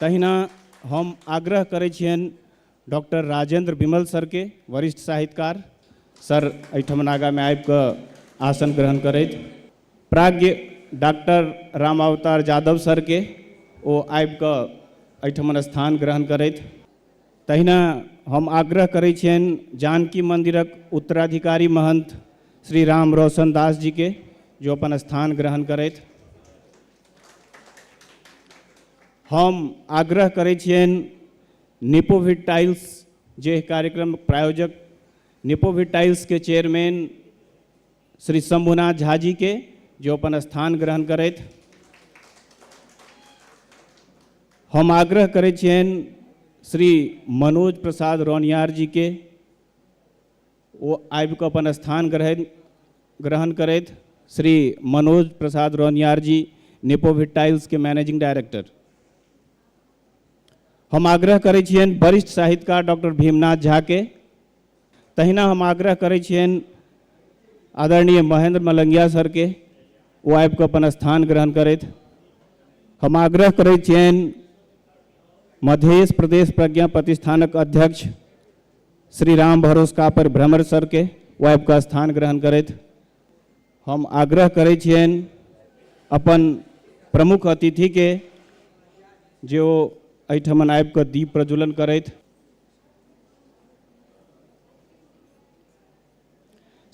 तहिना हम आग्रह करै छियनि डॉक्टर राजेंद्र विमल सरके वरिष्ठ साहित्यकार सर एहिठाम नागामे आबि कऽ आसन ग्रहण करथि प्राज्ञ डॉक्टर राम अवतार यादव सरके ओ आबि कऽ एहिठाम स्थान ग्रहण करथि तहिना हम आग्रह करै छियनि जानकी मन्दिरक उत्तराधिकारी महंत श्री राम रोशन दास जीके जो अपन स्थान ग्रहण करथि हम आग्रह करै छियनि निपोविट टाइल्स जे कार्यक्रम प्रायोजक निपोविट टाइल्सके चेयरमैन श्री शंभुनाथ झा जी के जो अपन स्थान ग्रहण करथि हम आग्रह करै छियनि श्री मनोज प्रसाद रौनियार जी के ओ आबि कऽ अपन स्थान ग्रहण ग्रहण करथि श्री मनोज प्रसाद रौनियार जी नेपोविट टाइल्स के मैनेजिंग डायरेक्टर हम आग्रह करै छियनि वरिष्ठ साहित्यकार डॉक्टर भीमनाथ झा के तहिना हम आग्रह करै छियनि आदरणीय महेंद्र मलंगिया सर के ओ आबि कऽ अपन स्थान ग्रहण करथि हम आग्रह करै छियनि मध्य प्रदेश प्रज्ञा प्रतिष्ठानक अध्यक्ष श्री राम भरोस कापर भ्रमर सरके वाइब कऽ स्थान ग्रहण करैत हम आग्रह करै छियनि अपन प्रमुख अतिथिके जे ओ एहिठमन आबि कऽ दीप प्रज्वलन करथि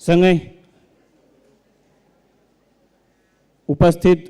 सङ्गहि उपस्थित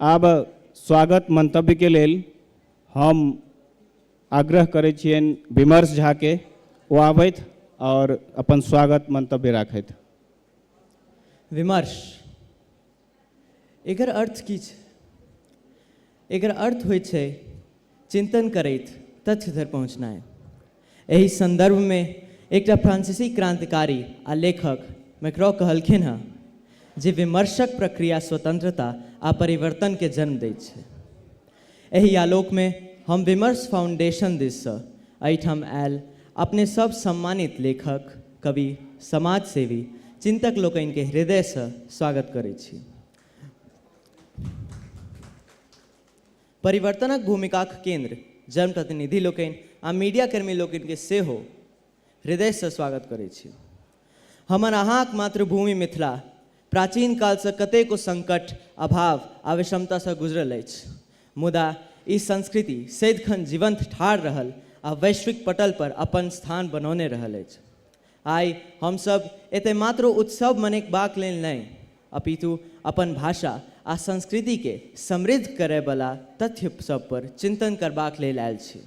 आब स्वागत मंतव्य के लेल हम आग्रह करै छियनि विमर्श झा के ओ आबथि आओर अपन स्वागत मंतव्य राखथि विमर्श एकर अर्थ की छै एकर अर्थ होइ छै चिन्तन करैत तथ्य धरि पहुँचनाइ। एहि सन्दर्भमे एकटा फ्रान्सीसी क्रान्तिकारी आ लेखक मैक्रॉ कहलखिन्ह हँ जे विमर्शक प्रक्रिया स्वतन्त्रता आ परिवर्तनकेँ जन्म दैत छै। एहि आलोकमे हम विमर्श फाउण्डेशन दिससँ एहिठाम आएल अपने सभ सम्मानित लेखक, कवि, समाजसेवी, चिन्तक लोकनिकेँ हृदयसँ स्वागत करैत छी। परिवर्तनक भूमिकाक केन्द्र जनप्रतिनिधि लोकनि आ मीडिया कर्मी लोकनि के सेहो हृदय सँ स्वागत करै छी। हमर अहाँक मातृभूमि मिथिला प्राचीन काल सँ कतेको संकट, अभाव आ विषमता सँ गुजरल अछि मुदा ई संस्कृति सदिखन जीवंत ठाढ़ रहल आ वैश्विक पटल पर अपन स्थान बनौने रहल अछि। आइ हम सब एतय मात्र उत्सव मनेकबाक लेल नहि अपितु अपन भाषा आ संस्कृति के समृद्ध करय बला तथ्य सब पर चिन्तन करबाक लेल आयल छी।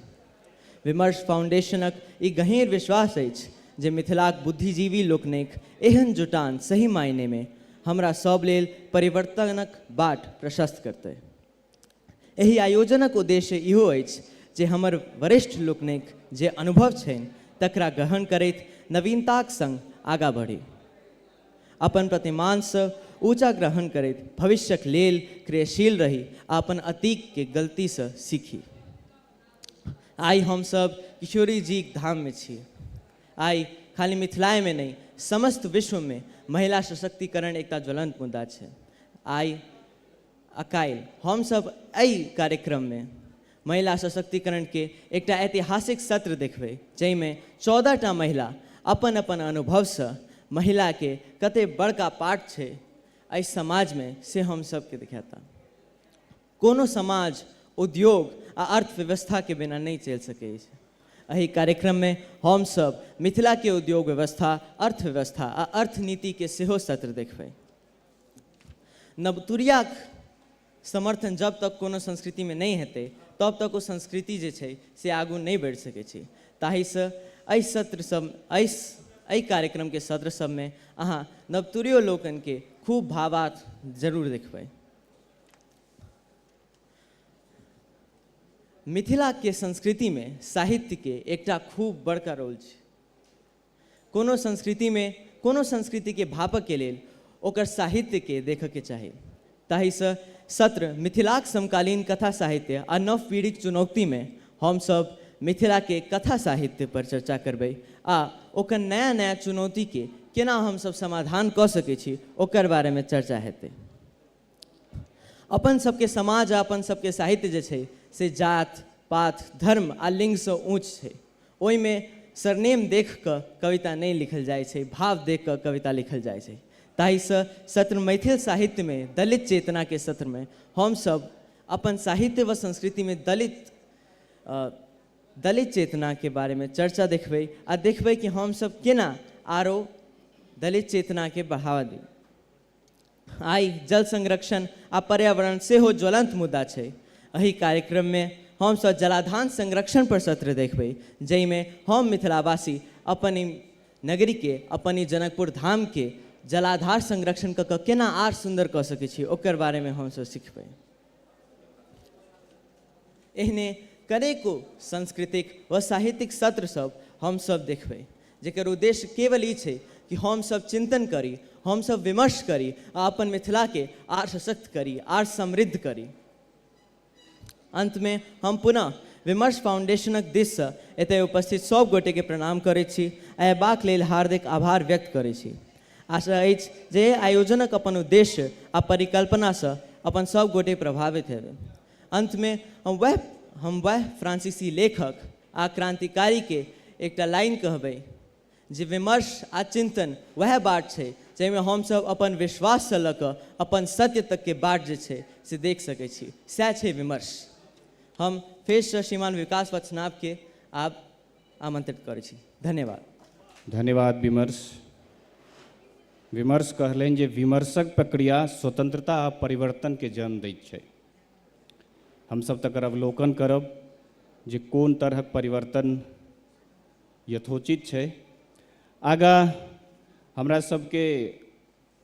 विमर्श फाउंडेशनक ई गहींर विश्वास अछि जे मिथिलाक बुद्धिजीवी लोकनिक एहन जुटान सही मायने मे हमरा सब लेल परिवर्तनक बाट प्रशस्त करतय। एहि आयोजनक उद्देश्य इहो अछि जे हमर वरिष्ठ लोकनिक जे अनुभव छनि तकरा ग्रहण करैत नवीनताक संग आगाँ बढ़ी। अपन प्रतिमानसँ ऊँचा ग्रहण करैत भविष्यक लेल क्रियशील रही आ अपन अतीक केँ गलतीसँ सीखी। आइ हम सब किशोरी जीक धाममे छी। आइ खाली मिथिलायमे नहि समस्त विश्वमे महिला सशक्तिकरण एकटा ज्वलंत मुद्दा छै। आइ। आ काइल हम सब अइ कार्यक्रम मे महिला सशक्तिकरण के एकटा ऐतिहासिक सत्र देखबै जइ मे चौदह टा महिला अपन अपन अनुभव स महिला के कते बड़का पार्ट छै अइ समाज मे से हम सब के देखैता। कोनो समाज उद्योग आ अर्थव्यवस्था के बिना नइ चइल सकै अछि। अहि कार्यक्रम मे हम सब मिथिला के उद्योग व्यवस्था, अर्थव्यवस्था आ अर्थनीति के सेहो सत्र देखबै। नवतुरियाक समर्थन जब तक कोनो संस्कृतिमे नहि हेतै तब तक ओ संस्कृति जे छै से आगू नहि बढ़ि सकै छै ताहिसँ एहि सत्र सब एहि एहि कार्यक्रमके सत्र सबमे अहाँ नवतुरियो लोकनिके खूब भावार्थ जरूर देखबै मिथिलाके संस्कृतिमे साहित्यके एकटा खूब बड़का रोल छै कोनो संस्कृति मे कोनो संस्कृति के भापय के लेल ओकर साहित्य के देखय के चाही। ताहि स सत्र मिथिलाक समकालीन कथा साहित्य आ नव पीढ़ीक चुनौक्ति मे हम सब मिथिला के कथा साहित्य पर चर्चा करबै आ ओकर नया नया चुनौती के केना हम सब समाधान क सकै छी ओकर बारे मे चर्चा हेतै। अपन सबके समाज आ अपन सबके साहित्य जे छै से जात, पात, धर्म आ लिंग सँ ऊँच छै। ओहि मे सरनेम देख क कविता नहि लिखल जाइत छै, भाव देख क कविता लिखल जाइत छै। ताहि सँ सत्र मैथिल साहित्य मे दलित चेतना के सत्र मे हम सब अपन साहित्य व संस्कृति मे दलित आ दलित चेतना के बारे मे चर्चा देखबै आ देखबै कि हम सब केना आरो दलित चेतना के बढ़ावा देबै। आइ जल संरक्षण आ पर्यावरण सेहो ज्वलंत मुद्दा छै। अहि कार्यक्रम मे हम सब जलाधान संरक्षण पर सत्र देखबै जइ मे हम मिथिलावासी अपन इ नगरी के अपन इ जनकपुर धाम के जलाधार संरक्षण क क केना आर सुंदर क सकै छी ओकर बारे मे हम सब सिखबै। एहने कनेको सांस्कृतिक व साहित्यिक सत्र सब हम सब देखबै जेकर उद्देश्य केवल ई छै कि हम सब चिन्तन करी, हम सब विमर्श करी आ अपन मिथिला के आर सशक्त करी, आर समृद्ध करी। अन्त मे हम पुनः विमर्श फाउण्डेशनक दिस सँ एतय उपस्थित सब गोटे के प्रणाम करैत छी आ एबाक लेल हार्दिक आभार व्यक्त करैत छी। आशा अछि जे एहि आयोजनक अपन उद्देश्य आ परिकल्पना स अपन सब गोटे प्रभावित हेबै। अंत मे हम वैह हम वैह फ्रांसीसी लेखक आ क्रांतिकारी के एकटा लाइन कहबै जे विमर्श आ चिंतन वैह बाट छै जहि मे हम सब अपन विश्वास स ल क अपन सत्य तक के बाट जे छै से देख सकै छी सैह छै विमर्श। हम फेर स श्रीमान विकास वत्सनाभ के आब। आमंत्रित करै छी धन्यवाद धन्यवाद विमर्श विमर्श कहलनि जे विमर्शक प्रक्रिया स्वतंत्रता आ परिवर्तन के जन्म दैत छै हम सब तकर अवलोकन करब जे कोन तरहक परिवर्तन यथोचित छै आगा हमरा सबके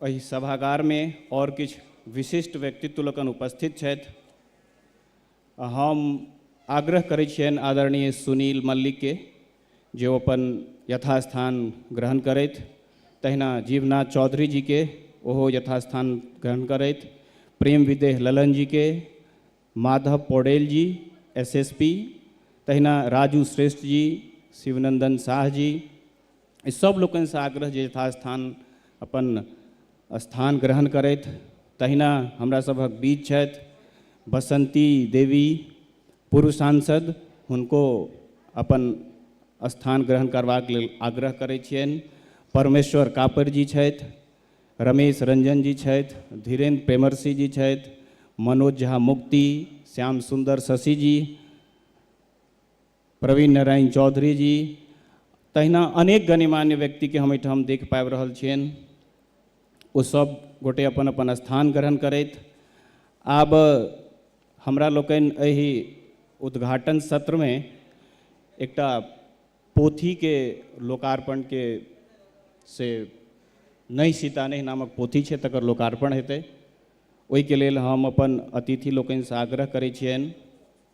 एहि सभागार में और किछु विशिष्ट व्यक्तित्व लोकन उपस्थित छथि हम आग्रह करै छियनि आदरणीय सुनील मल्लिक के जे ओ अपन यथास्थान ग्रहण करथि तहिना जीवनाथ चौधरी जी के ओहो यथास्थान ग्रहण करथि प्रेम विदेह ललन जी के माधव पौडेल जी एसएसपी तहिना राजू श्रेष्ठ जी शिवनंदन शाह जी एहि सभ लोकनिसँ आग्रह जे यथास्थान अपन स्थान ग्रहण करथि तहिना हमरा सभक बीच छथि बसंती देवी पूर्व सांसद हुनको अपन स्थान ग्रहण करबाक लेल आग्रह करै छियनि परमेश्वर कापर जी छथि रमेश रंजन जी छथि धीरेन्द्र प्रेमर्षि जी छथि मनोज झा मुक्ति श्याम सुंदर शशि जी प्रवीण नारायण चौधरी जी तहिना अनेक गणमान्य व्यक्तिके हम एहिठाम देख पाबि रहल छियनि ओ सब गोटे अपन अपन स्थान ग्रहण करथि आब हमरा लोकनि एहि उद्घाटन सत्रमे एकटा पोथीके लोकार्पणके से नहि सीता नहि नामक पोथी छै तकर लोकार्पण हेतै ओहिके लेल हम अपन अतिथि लोकनिसँ आग्रह करै छियनि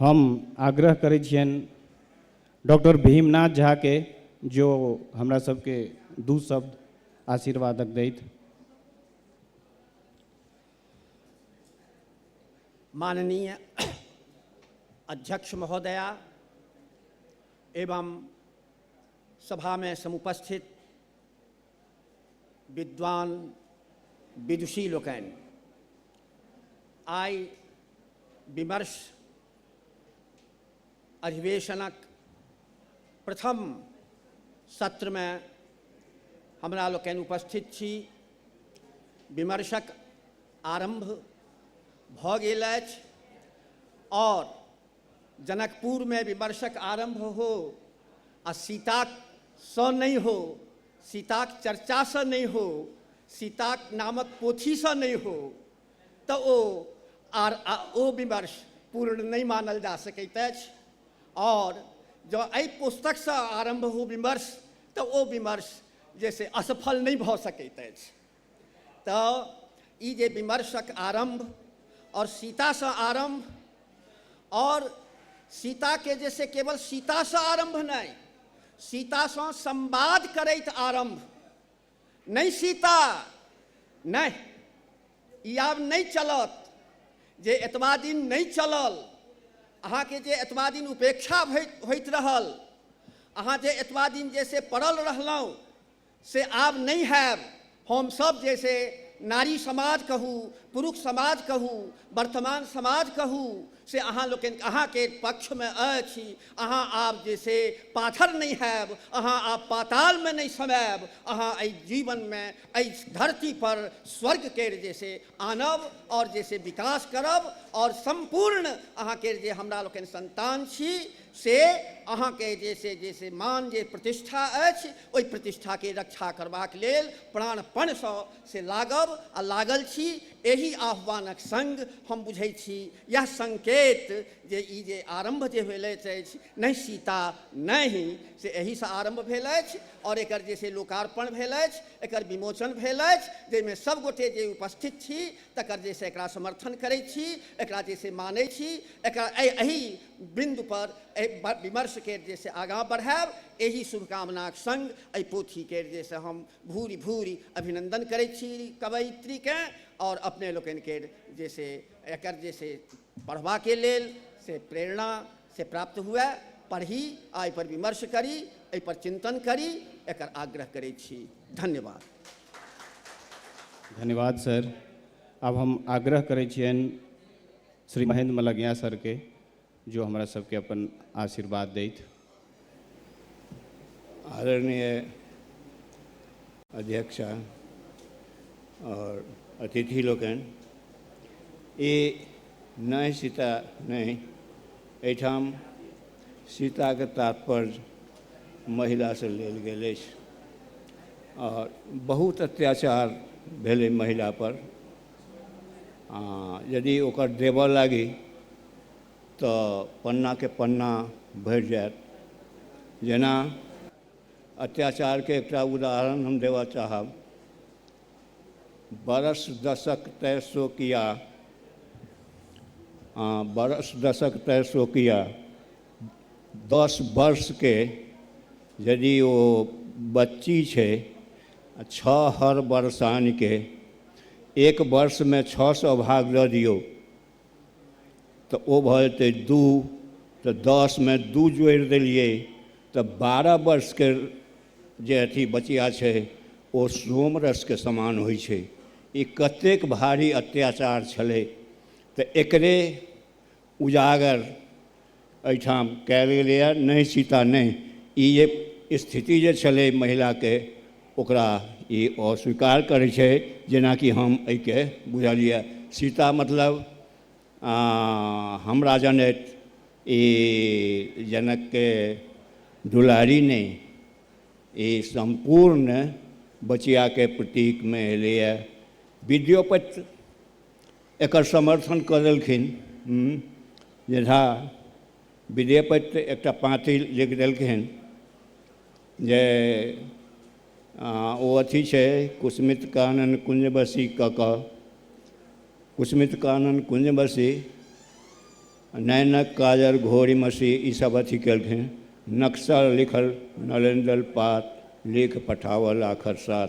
हम आग्रह करै छियनि डॉक्टर भीमनाथ झाके जो हमरा सबके दू शब्द आशीर्वादक दैत माननीय अध्यक्ष महोदया एवं सभामे समुपस्थित विद्वान विदुषी लोकनि आइ विमर्श अधिवेशनक प्रथम सत्रमे हमरा लोकनि उपस्थित छी विमर्शक आरम्भ भऽ गेल अछि आओर जनकपुरमे विमर्शक आरम्भ हो आ सीतासँ नहि हो सीताक चर्चासँ नहि हो सीताक नामक पोथीसँ नहि हो तऽ ओ आर ओ विमर्श पूर्ण नहि मानल जा सकैत अछि आओर जँ एहि पुस्तकसँ आरम्भ हो विमर्श तऽ ओ विमर्श जे से असफल नहि भऽ सकैत अछि तऽ ई जे विमर्शक आरम्भ आओर सीतासँ आरम्भ आओर सीताके जे से केवल सीतासँ आरम्भ नहि सीतासँ संवाद करैत आरम्भ नहि सीता नहि ई आब नहि चलत जे एतबा दिन नहि चलल अहाँके जे एतबा दिन उपेक्षा होइत रहल अहाँ जे एतबा दिन जे से पड़ल रहलहुँ से आब नहि हएब। हम सब जे से नारी समाज कहू, पुरुख समाज कहू, वर्तमान समाज कहू से अहाँ लोकनि अहाँके पक्षमे अछि। अहाँ आब जे से पाथर नहि हएब। अहाँ आब पातालमे नहि समएब। अहाँ एहि जीवनमे एहि धरती पर स्वर्ग केर जे से आनब आओर जे से विकास करब आओर सम्पूर्ण अहाँ केर जे हमरा लोकनि सन्तान छी से अहाँके जे से जे से मान जे प्रतिष्ठा अछि ओहि प्रतिष्ठाके रक्षा करबाक लेल प्राणपणसँ से लागब आ लागल छी एहि आह्वानक सङ्ग हम बुझैत छी इएह सङ्केत जे ई जे आरम्भ जे भेल अछि नहि सीता नहि से एहिसँ आरम्भ भेल अछि आओर एकर जे से लोकार्पण भेल अछि एकर विमोचन भेल अछि जाहिमे सभगोटे जे उपस्थित छी तकर जे से एकरा समर्थन करैत छी एकरा जे से मानैत छी एकरा एहि बिन्दु पर एहि विमर्श केर जे से आगाँ बढ़ायब एहि शुभकामनाक संग एहि पोथी केर जे से हम भूरि भूरि अभिनन्दन करैत छी कवयित्री केँ आओर अपने लोकनि केर जे से एकर जे से पढ़बा के लेल से प्रेरणा से प्राप्त हुए पढ़ी आ एहि पर विमर्श करी एहि पर चिन्तन करी एकर आग्रह करैत छी धन्यवाद धन्यवाद सर आब हम आग्रह करैत छियनि श्री महेन्द्र मलग्या सर के जो हमरा सबके अपन आशीर्वाद दैत। आदरणीय अध्यक्ष और अतिथि लोकनि, इ नहि सीता नहि, एहिठाम सीता के तात्पर्य महिला से लेल गेल अछि और बहुत अत्याचार भेलै महिला पर आ यदि ओकर देबऽ लागी तऽ पन्नाके पन्ना भरि जायत जेना अत्याचारके एकटा उदाहरण हम देबऽ चाहब बरस दशक तय सो किया आ बरस दशक तय सो किया दस वर्षके यदि ओ बच्ची छै आ छओ हर वर्षानके एक वर्षमे छओ सए भाग दऽ दियौ तऽ ओ भऽ जेतै दू तऽ दसमे दू जोड़ि देलियै तऽ बारह वर्षके जे अथी बचिया छै ओ सोम रसके समान होइ छै ई कतेक भारी अत्याचार छलै तऽ एकरे उजागर एहिठाम कयल गेलैए नहि सीता नहि ई जे स्थिति जे छलै महिलाके ओकरा ई अस्वीकार करै छै जेनाकि हम एहिके बुझलियै सीता मतलब हमरा जनैत ई जनकके दुलारी नहि ई सम्पूर्ण बचियाके प्रतीकमे एलैए विद्योपति एकर समर्थन कऽ देलखिन जे झा विद्येपति एकटा पाँति लिखि देलखिन जे ओ अथी छै कुसमित कानन कुञ्जबसी कऽ कऽ कुसमित कानन कुञ्जबसी नैनक काजर घोरी मसी ईसभ अथी केलखिन नक्शा लिखल नरेन्द्र पात लिख पठावल आखर साथ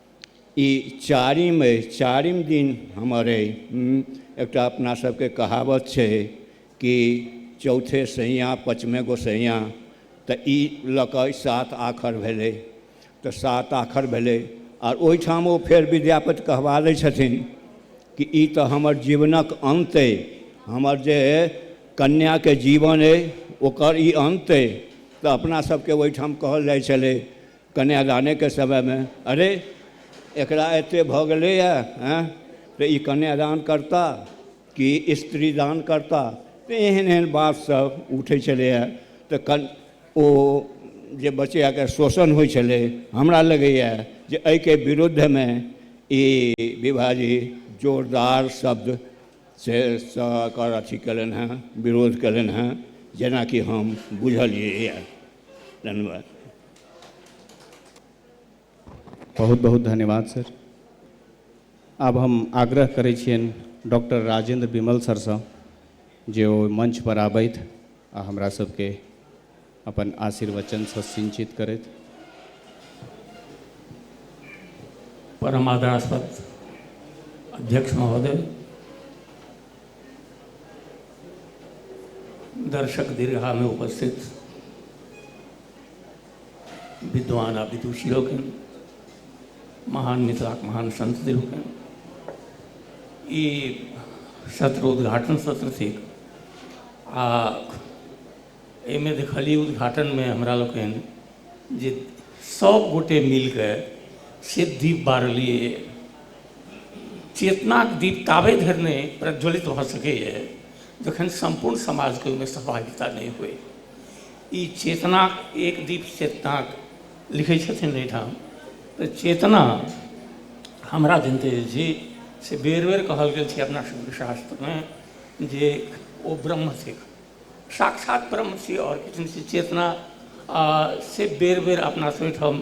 ई चारिम अइ चारिम दिन हमर अइ एकटा अपना सबके कहावत छै कि चौथे सैयाँ पचमे गोसैयाँ तऽ ई लऽ कऽ सात आखर भेलै तऽ सात आखर भेलै आओर ओहिठाम ओ फेर विद्यापति कहबा लै छथिन कि ई तऽ हमर जीवनक अन्त अइ हमर जे कन्याके जीवन अइ ओकर ई अन्त अइ तऽ अपना सबके ओहिठाम कहल जाइ छलै कन्यादानेके समयमे अरे एकरा एतेक भऽ गेलैए एँ तऽ ई कन्यादान करताह कि स्त्रीदान करताह तऽ एहन एहन बातसभ उठै छलैए तऽ कन ओ जे बचैआके शोषण होइ छलै हमरा लगैए जे एहिके विरुद्धमे ई विभाजी जोरदार शब्द से एकर अथी कयलनि हेँ विरोध कयलनि हेँ जेनाकि हम बुझलियैए धन्यवाद बहुत बहुत धन्यवाद सर आब हम आग्रह करै छियनि डॉक्टर राजेन्द्र विमल सरसँ जे ओ मंचपर आबथि आ हमरा सबके अपन आशीर्वचनसँ सिंचित करथि परम आदरास्पद अध्यक्ष महोदय दर्शक दीर्घा में उपस्थित विद्वान आ विदुषी लोकनि महान मिथिलाक महान संत लोकनि ई सत्र उद्घाटन सत्र थिक आ एहिमे देखलियै उद्घाटनमे हमरा लोकनि जे सब गोटे मिलके से दीप बारलियै चेतनाक दीप ताबे धरि नहि प्रज्वलित भऽ सकैए जखन सम्पूर्ण समाजके ओहिमे सहभागिता नहि होइ ई चेतनाक एक दीप चेतनाक लिखै छथिन एहिठाम तऽ चेतना हमरा जनैत अछि जे से बेर बेर कहल गेल छै अपना सभके शास्त्रमे जे ओ ब्रह्म थिक साक्षात ब्रह्म छी आओर किछु नहि छी चेतना से बेर बेर अपना सभ ओहिठाम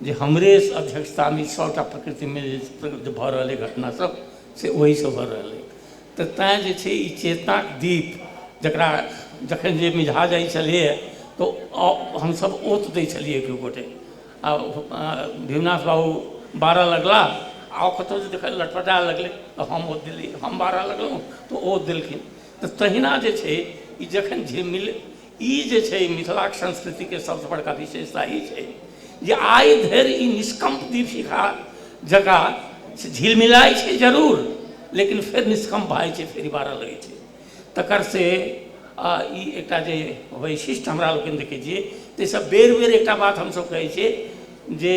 जे हमरे अध्यक्षतामे ई सभटा प्रकृतिमे जे प्रवृत्त भऽ रहल अइ घटना सभ से ओहिसँ भऽ रहल अइ तऽ तैँ जे छै ई चेतनाक दीप जकरा जखन जे मिझा जाइ छलैए तऽ ओ हमसभ ओत दै छलियै दू गोटे आ भीमनाथ बाबू बारऽ लगला आ ओ कतहु जे देखल लटपटाए लगलै तऽ हम ओत देलियै हम बारऽ लगलहुँ तऽ ओ ओत देलखिन तऽ तहिना जे छै ई जखन झिलमिल ई जे छै मिथिलाक संस्कृतिके सबसँ बड़का विशेषता ई छै जे आइ धरि ई निष्कम्प दीपशिखा जकाँ से झिलमिलाइ छै जरूर लेकिन फेर निष्कम्प भऽ जाइ छै फेर ई बारऽ लगै छै तकर से ई एकटा जे वैशिष्ट हमरा लोकनि देखै छियै ताहिसँ बेर बेर एकटा बात हमसब कहै छियै जे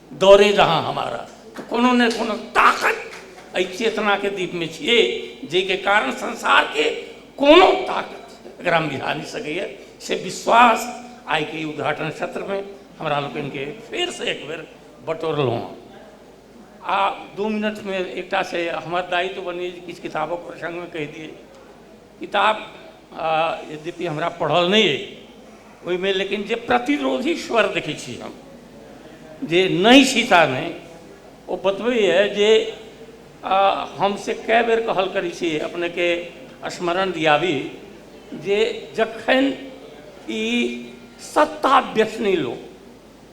दौड़े जहाँ हमारा तऽ कोनो ने कोनो ताकत एहि चेतनाके दीपमे छियै जाहिके कारण संसारके कोनो ताकत एकरा मिझा नहि सकैए से विश्वास आइके ई उद्घाटन सत्रमे हमरा लोकनिके फेरसँ एक बेर बटोरलहुँ हँ आ दू मिनटमे एकटा से हमर दायित्व बनैए जे किछु किताबक प्रसङ्गमे कहि दियै किताब यद्यपि हमरा पढ़ल नहि अइ ओहिमे लेकिन जे प्रतिरोधी स्वर देखै छी हम जे नहि सीता नहि ओ बतबैए जे हम से कए बेर कहल करै छी अपनेके स्मरण दियाबी जे जखन ई सत्ता व्यसनी लोक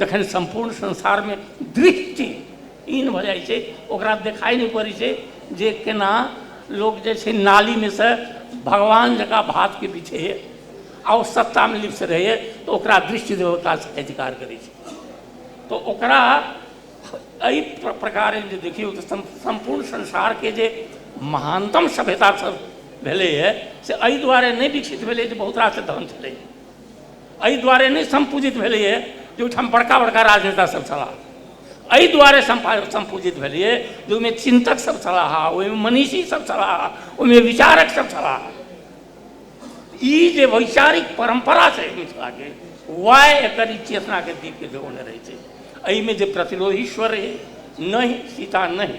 जखन सम्पूर्ण संसारमे दृष्टि हीन भऽ जाइ छै ओकरा देखाइ नहि पड़ै छै जे केना लोक जे छै नालीमे सँ भगवान जकाँ भावके बिछैए आ ओ सत्तामे लिप्त रहैए तऽ ओकरा दृष्टि देवता साहित्यकार करै छै तऽ ओकरा एहि प्रकारेण जे देखियौ तऽ सम्पूर्ण संसारके जे महानतम सभ्यता सभ भेलैए से एहि दुआरे नहि विकसित भेलै जे बहुत रास धन छलै एहि दुआरे नहि सम्पूजित भेलैए जे ओहिठाम बड़का बड़का राजनेता सब छलाह एहि दुआरे सम्पूजित भेलैए जे ओहिमे चिन्तक सब छलाह ओहिमे मनीषी सब छलाह ओहिमे विचारक सब छलाह ई जे वैचारिक परम्परा छै मिथिलाके वएह एकर ई चेतनाके दीपके जगौने रहै छै एहिमे जे प्रतिलोही स्वर रहै नहि सीता नहि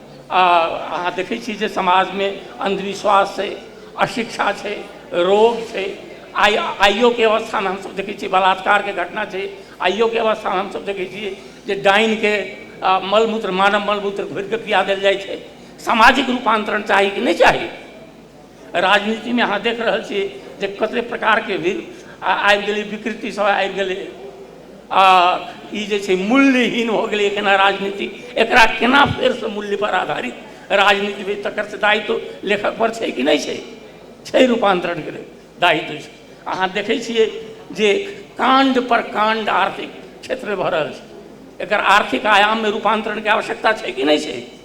आ अहाँ देखै छी जे समाजमे अन्धविश्वास छै अशिक्षा छै रोग छै आइ आइयोके अवस्थामे हमसब देखै छियै बलात्कारके घटना छै आइयोके अवस्थामे हमसब देखै छियै जे डाइनके मल मूत्र मानव मल मूत्र घोरिके पीया देल जाइ छै सामाजिक रूपान्तरण चाही कि नहि चाही राजनीतिमे अहाँ देखि रहल छिए जे कतेक प्रकारके भी आबि गेलै विकृतिसब आबि गेलै आओर ई जे छै मूल्यहीन भऽ गेलै एखन राजनीति एकरा कोना फेरसँ मूल्यपर आधारित राजनीति होइ तकर तऽ दायित्व लेखकपर छै कि नहि छै छै रूपान्तरणके लेल दायित्व छै अहाँ देखै छिए जे काण्डपर काण्ड आर्थिक क्षेत्रमे भऽ रहल छै एकर आर्थिक आयाममे रूपान्तरणके आवश्यकता छै कि नहि छै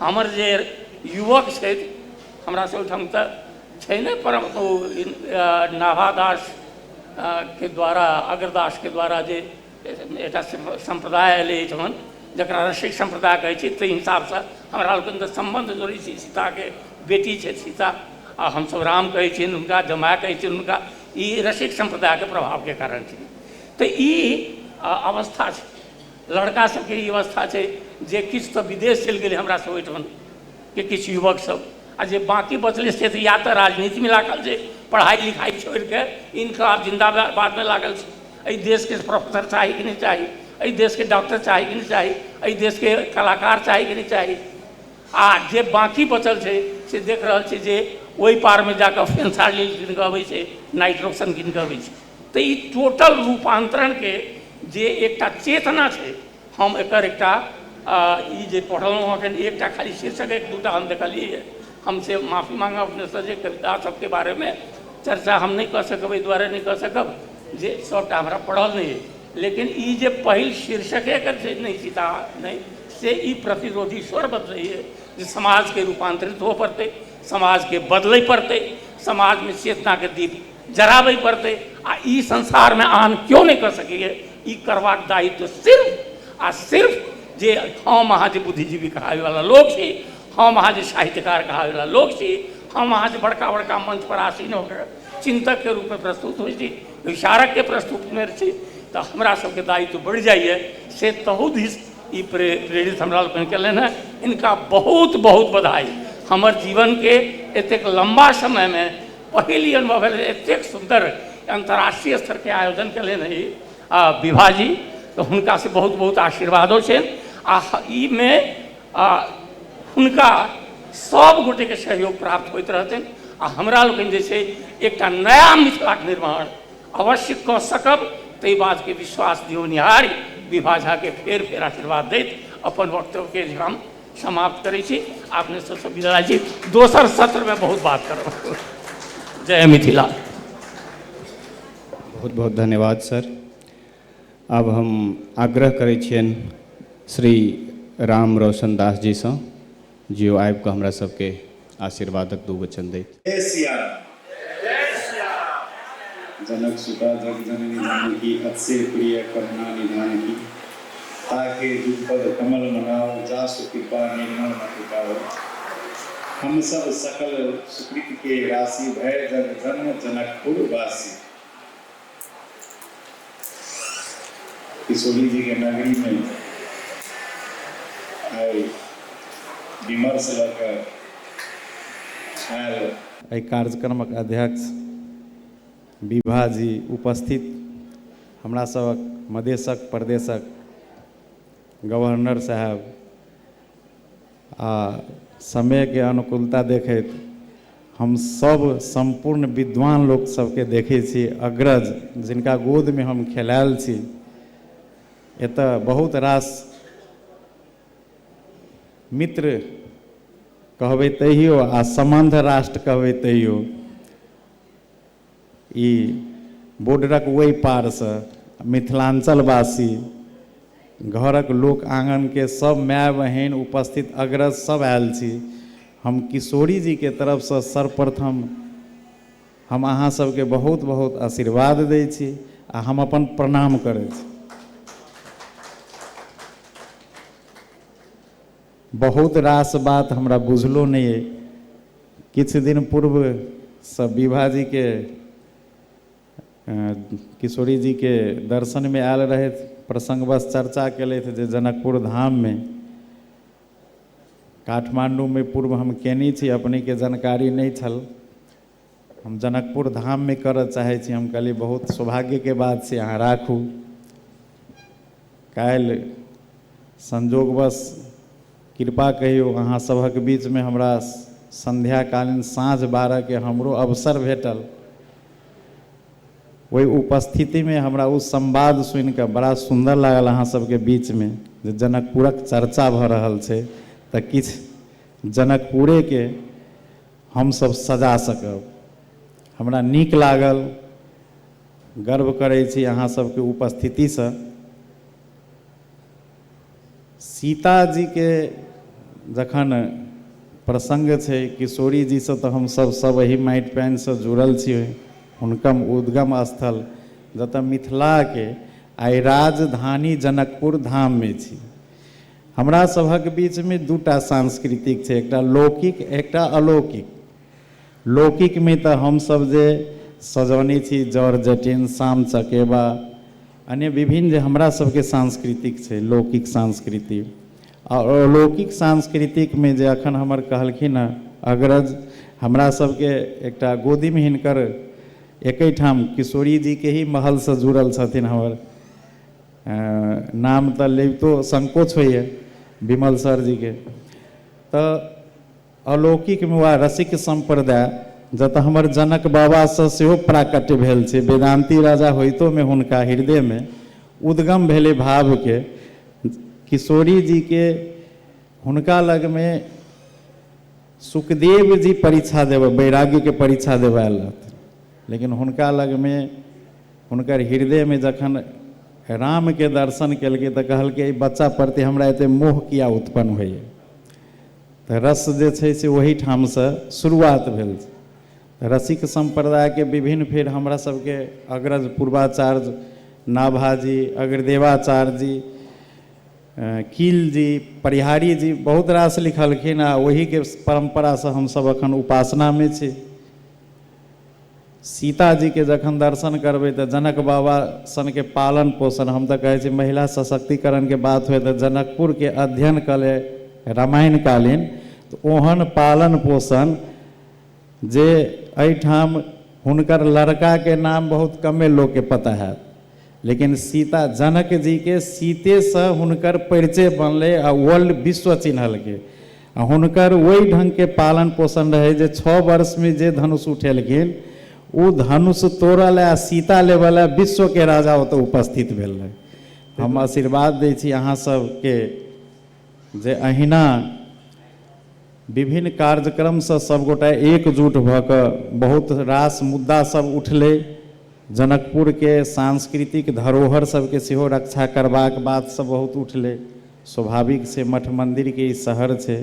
हमर जे युवक छथि हमरा सब ओहिठाम तऽ छै नहि परम ओ नाभा दास के द्वारा अग्रदास के द्वारा जे एकटा सम्प्रदाय एलै एहिठाम जकरा रसिक सम्प्रदाय कहै छै ताहि हिसाब सँ हमरा लोकनि तऽ सम्बन्ध जोड़ै छी सीता के बेटी छथि सीता आ हमसब राम कहै छियनि हुनका जमाय कहै छियनि हुनका ई रसिक सम्प्रदाय के प्रभाव के कारण छै तऽ ई अवस्था छै लड़का सबके ई अवस्था छै जे किछु तऽ विदेश चलि गेलै हमरा सब ओहिठाम के किछु युवक सब आ जे बाँकी बचलै से तऽ या तऽ राजनीतिमे लागल छै पढ़ाइ लिखाइ छोड़िके इन्कलाब जिन्दाबादमे लागल छै एहि देशके प्रोफेसर चाही कि नहि चाही एहि देशके डॉक्टर चाही कि नहि चाही एहि देशके कलाकार चाही कि नहि चाही आ जे बाँकी बचल छै से देख रहल छियै जे ओहि पारमे जाकऽ फेन साड़ी कीन कऽ अबै छै नाइट रोशन कीन कऽ अबै छै तऽ ई टोटल रूपान्तरणके जे एकटा चेतना छै हम एकर एकटा ई जे पढ़लहुँ हँ एखन एकटा खाली शीर्षक एक दूटा हम देखलियै हँ हम से माफी माँगब अपनेसँ जे कविता सभके बारेमे चर्चा हम नहि कऽ सकब एहि दुआरे नहि कऽ सकब जे सभटा हमरा पढ़ल नहि अछि लेकिन ई जे पहिल शीर्षके एकर जे नहि छी तऽ अहाँ नहि से ई प्रतिरोधी स्वर बतबैए जे समाजके रूपान्तरित होबऽ पड़तै समाजके बदलै पड़तै समाजमे चेतनाके दीप जराबै पड़तै आ ई संसारमे आन केओ नहि कऽ सकैए ई करबाक दायित्व सिर्फ आ सिर्फ जे हम अहाँ जे बुद्धिजीवी कहाबैवला लोक छी हम अहाँ जे साहित्यकार कहाबैवला लोक छी हम अहाँ जे बड़का बड़का मंचपर आसीन होकर चिन्तकके रूपमे प्रस्तुत होइ छी विचारकके प्रस्तुतमे छी तऽ हमरा सबके दायित्व बढ़ि जाइए से तहू दिस ई प्रे प्रेरित हमरा लोकनि केलनि हेँ इनका बहुत बहुत बधाई हमर जीवनके एतेक लम्बा समयमे पहिल ई अनुभव भेल एतेक सुन्दर अन्तर्राष्ट्रीय स्तरके आयोजन कयलनि हँ ई आ विभाजी तऽ हुनकासँ बहुत बहुत आशीर्वादो छनि आ ईमे आ हुनका सब गोटेके सहयोग प्राप्त होइत रहतनि आ हमरा लोकनि जे छै एकटा नया मिथिलाके निर्माण अवश्य कऽ सकब ताहि बातके विश्वास दियौनिहार विभा झाके फेर फेर आशीर्वाद दैत अपन वक्तव्यके जे हम समाप्त करै छी अपने सबसँ विदा छी दोसर सत्रमे बहुत बात करब जय मिथिला बहुत बहुत धन्यवाद सर आब हम आग्रह करै छियनि श्री राम रोशन दास जीसँ जे ओ आबि कऽ हमरा सबके आशीर्वादक दू वचन दैत। जय सिया राम जय सिया राम जनक सुता जग जननी जानकी अतिशय प्रिय करुणा निधान की ताके जुग पद कमल मनाओ जासु कृपा निर्मल मति पाओ हम सब सकल सुकृत के राशि भय जग जन्म जनकपुर वासी। किशोरी के नगरी में आई विमर्श लऽ कऽ आयल एहि कार्यक्रमक अध्यक्ष विभा जी उपस्थित हमरा सभक मधेशक प्रदेशक गवर्नर साहेब आ समयके अनुकूलता देखैत हम सभ सम्पूर्ण विद्वान लोक सभके देखै छी अग्रज जिनका गोदमे हम खेलायल छी एतय बहुत रास मित्र कहबै तैयो आ सम्बन्ध राष्ट्र कहबै तैयो ई बोर्डरक ओहि पारसँ मिथिलाञ्चलवासी घरक लोक आँगनके सभ माय बहिन उपस्थित अग्रज सभ आयल छी हम किशोरी जीके तरफसँ सर्वप्रथम हम अहाँ सभके बहुत बहुत आशीर्वाद दै छी आ हम अपन प्रणाम करै छी बहुत रास बात हमरा बुझलो नहि अइ। किछु दिन पूर्व सँ विभा जी के किशोरी जी के दर्शन मे आयल रहथि। प्रसंगवश चर्चा केलथि जे जनकपुर धाम मे काठमांडू मे पूर्व हम केने छी। अपने के जानकारी नहि छल। हम जनकपुर धाममे करऽ चाहै छी हम कहलियै बहुत सौभाग्यके बात छै अहाँ राखू काल्हि संजोगवश कृपा कहियौ अहाँ सभक बीचमे हमरा संध्याकालीन साँझ बारहके हमरो अवसर भेटल ओहि उपस्थितिमे हमरा ओ संवाद सुनि कऽ बड़ा सुन्दर लागल अहाँ सभके बीचमे जे जनकपुरक चर्चा भऽ रहल छै तऽ किछु जनकपुरेके हम सभ सजा सकब। हमरा नीक लागल। गर्व करै छी अहाँ सभ के उपस्थिति सँ। सीता जी के जखन प्रसंग छै, किशोरी जी सँ त हम सभ सभ एहि माटि पानि सँ जुड़ल छी। हुनकम उद्गम स्थल जतय मिथिला के आइ राजधानी जनकपुर धाम मे छी। हमरा सभक बीचमे दूटा सांस्कृतिक छै एकटा लौकिक एकटा अलौकिक लौकिकमे तऽ हमसभ जे सजौने छी जर जटिन साम चकेबा अन्य विभिन्न जे हमरा सभके सांस्कृतिक छै लौकिक संस्कृति आ अलौकिक सांस्कृतिकमे जे अखन हमर कहलखिन हँ अग्रज हमरा सभके एकटा गोदीमे हिनकर एकै ठाम किशोरी जीके ही महलसँ जुड़ल छथिन हमर नाम तऽ लेबितो संकोच होइए विमल सरजीके तऽ अलौकिकमे वा रसिक सम्प्रदाय जतऽ हमर जनक बाबासँ सेहो प्राकट्य भेल छै वेदान्ती राजा होइतोमे हुनका हृदयमे उद्गम भेलै भावके किशोरी जीके हुनका लगमे सुखदेव जी परीक्षा देबै वैराग्यके परीक्षा देबै आयल रहथिन लेकिन हुनका लगमे हुनकर हृदय में जखन राम के दर्शन केलकै तऽ कहलकै एहि बच्चा प्रति हमरा एते मोह किया उत्पन्न होइए तऽ रस जे छै से ओहि ठाम से शुरुआत भेल रसिक संप्रदाय के विभिन्न फेर हमरा सबके अग्रज पूर्वाचार्य नाभा जी अग्रदेवाचार्य जी कील जी परिहारी जी बहुत रास लिखलखिन आ ओहिके परम्परासँ हमसभ एखन उपासनामे छी सीता जी के जखन दर्शन करबै तऽ जनक बाबा सन के पालन पोषण हम तऽ कहै छी महिला सशक्तिकरण के बात हुए तऽ जनकपुर के अध्ययन कऽ ले रामायण कालीन तऽ ओहन पालन पोषण जे एहिठाम हुनकर लड़का के नाम बहुत कमे लोक के पता होयत लेकिन सीता जनक जी के सीते से हुनकर परिचय बनले आ वर्ल्ड विश्व चिन्हलके आ हुनकर वही ढंग के पालन पोषण रहे जे छः वर्ष में जे धनुष उठेलखिन ओ धनुष तोड़ल आ सीता लेवल विश्व के राजा ओतऽ उपस्थित भेल रहे हम आशीर्वाद दै छी अहाँ सबके जे अहिना विभिन्न कार्यक्रम सँ सब गोटा एकजुट भ क बहुत रास मुद्दा सब उठलै। जनकपुर के सांस्कृतिक धरोहर सब के सेहो रक्षा करबाक बात सब बहुत उठलै। स्वाभाविक छै मठ मंदिर के ई शहर छै।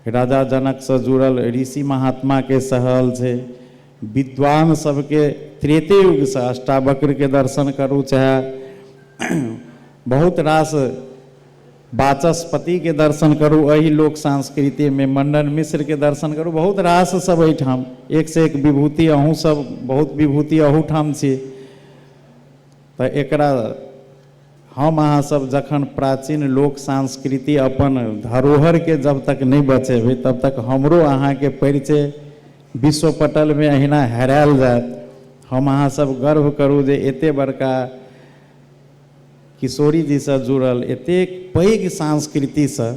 राजा जनक सँ जुड़ल ऋषि महात्मा के शहल छै। विद्वान सबके त्रेतेयुगसँ अष्टावक्रके दर्शन करू चाहे बहुत रास वाचस्पतिके दर्शन करू एहि लोक संस्कृतिमे मण्डन मिश्रके दर्शन करू बहुत रास सब एहिठाम एकसँ एक विभूति अहूँसब बहुत विभूति अहूठाम छी तऽ एकरा हम अहाँ सब जखन प्राचीन लोक सांस्कृति अपन धरोहर के जब तक नहि बचेबै तब तक हमरो अहाँ के परिचय विश्व पटल में अहिना हेरायल जायत हम अहाँ सब गर्व करू जे एते बड़का किशोरी जी से जुड़ल एतेक पैघ संस्कृति से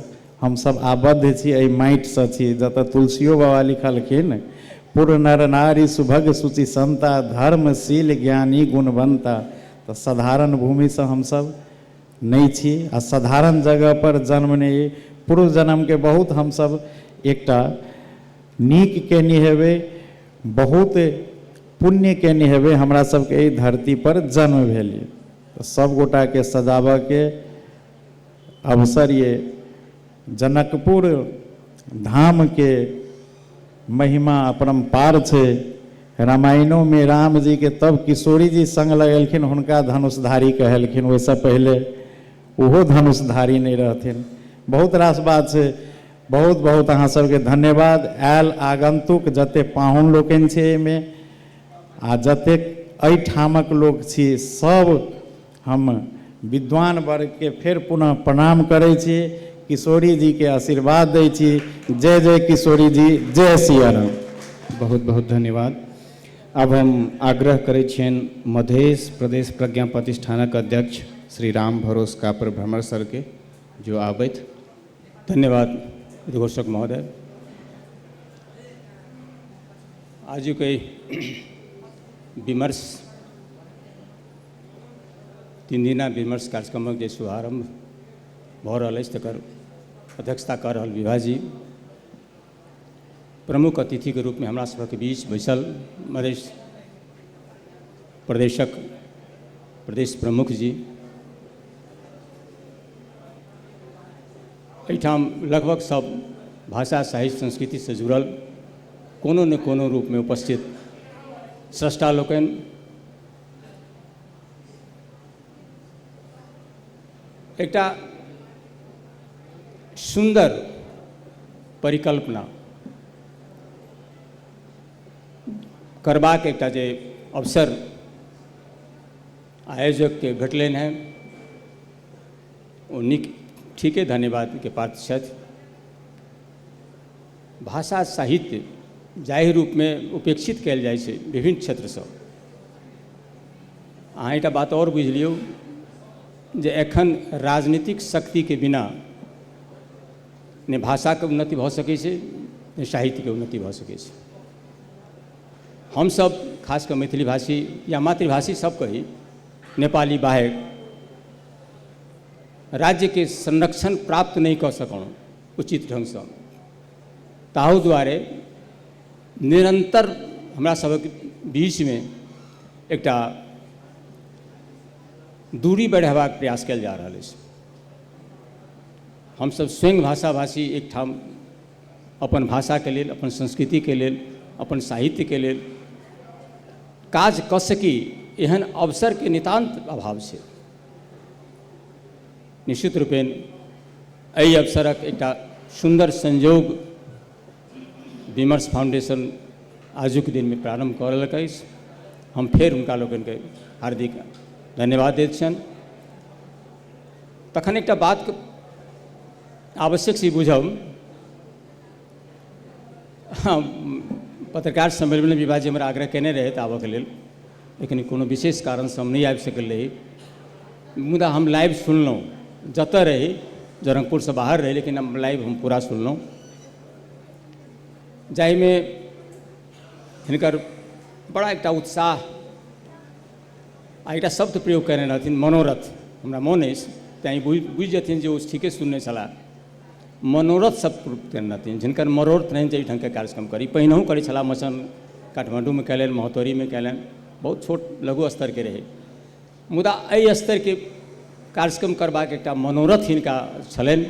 हम सब आबद्ध छी एहि माटि से छी जतऽ तुलसियो बाबा लिखलखिन पुर नर नारी सुभग सुचि संता धर्मशील ज्ञानी गुणवंता त सधारण भूमि सँ हम सब नइ छी आ सधारण जगह पर जन्म नइ अइ। पूर्व जनम के बहुत हम सब एकटा नीक केने हेबै, बहुत पुण्य केने हेबै हमरा सब के एहि धरती पर जन्म भेल ये। त सब गोटा के सजाबऽ के अवसर ये जनकपुर धाम के। महिमा अपरम्पार छै। रामायणो मे राम जी के तब किशोरी जी संग लगेलखिन हुनका धनुषधारी कहेलखिन ओहि सँ पहिले ओहो धनुषधारी नहि रहथिन। बहुत रास बात छै। बहुत बहुत अहाँ सब के धन्यवाद। आयल आगन्तुक जते पाहुन लोकनि छै एहि मे आ जतेक एहि ठामक लोक छी सब हम विद्वान वर्ग के फेर पुनः प्रणाम करै छी किशोरी जी के आशीर्वाद दै छी जय जय किशोरी जी जय सिया राम बहुत बहुत धन्यवाद आब हम आग्रह करै छियनि मधेश प्रदेश प्रज्ञा प्रतिष्ठानक अध्यक्ष श्री राम भरोस कापर भ्रमर सरके जो आबथि धन्यवाद उद्घोषक महोदय आजुक एहि विमर्श तीन दिना विमर्श कार्यक्रमक जे शुभारम्भ भऽ रहल अछि तकर अध्यक्षता कऽ रहल विभाजी प्रमुख अतिथिके रूपमे हमरा सभक बीच बैसल मधेश प्रदेशक प्रदेश प्रमुख जी एहिठाम लगभग सब भाषा साहित्य संस्कृतिसँ जुड़ल कोनो ने कोनो रूपमे उपस्थित स्रष्टा लोकनि एकटा सुन्दर परिकल्पना करबाक एकटा जे अवसर आयोजकके भेटलनि हेँ ओ नीक ठीके धन्यवादके पात्र छथि भाषा साहित्य जाहि रूपमे उपेक्षित कयल जाइत छै विभिन्न क्षेत्रसँ अहाँ एकटा बात आओर बुझि लियौ जे एखन राजनीतिक शक्तिके बिना ने भाषाके उन्नति भऽ सकै छै ने साहित्यके उन्नति भऽ सकै छै हमसभ खास कऽ मैथिली भाषी या मातृभाषी सभ कही नेपाली बाहेक राज्यके संरक्षण प्राप्त नहि कऽ सकलहुँ उचित ढङ्गसँ ताहू दुआरे निरन्तर हमरा सभक बीचमे एकटा दूरी बढ़ेबाक प्रयास कयल जा रहल अछि हमसभ स्वयं भाषाभाषी एकठाम अपन भाषाके लेल अपन संस्कृतिके लेल अपन साहित्यके लेल काज कऽ सकी एहन अवसरके नितान्त अभाव छै निश्चित रूपेण एहि अवसरक एकटा सुन्दर संयोग विमर्श फाउंडेशन आजुक दिनमे प्रारम्भ कऽ रहलक अछि हम फेर हुनका लोकनिके हार्दिक धन्यवाद दैत छियनि तखन एकटा बात आवश्यक छी बुझब हँ पत्रकार सम्मेलनमे विवाह जी हमरा आग्रह केने रहथि आबऽके लेल लेकिन कोनो विशेष कारणसँ हम नहि आबि सकल रही मुदा हम लाइव सुनलहुँ जतऽ रही जनकपुरसँ बाहर रही लेकिन हम लाइव हम पूरा सुनलहुँ जाहिमे हिनकर बड़ा एकटा उत्साह आ एकटा शब्द प्रयोग कयने रहथिन मनोरथ हमरा मोन अछि तैँ बुझि बुझि जेथिन जे ओ ठीके सुनने छलाह मनोरथ शब्द प्रयोग कयने रहथिन जिनकर मनोरथ रहनि जे एहि ढङ्गके कार्यक्रम करी पहिनहु करै छलाह मचन काठमाण्डूमे कयलनि महोत्तरीमे कयलनि बहुत छोट लघु स्तरके रहै मुदा एहि स्तरके कार्यक्रम करबाक एकटा मनोरथ हिनका छलनि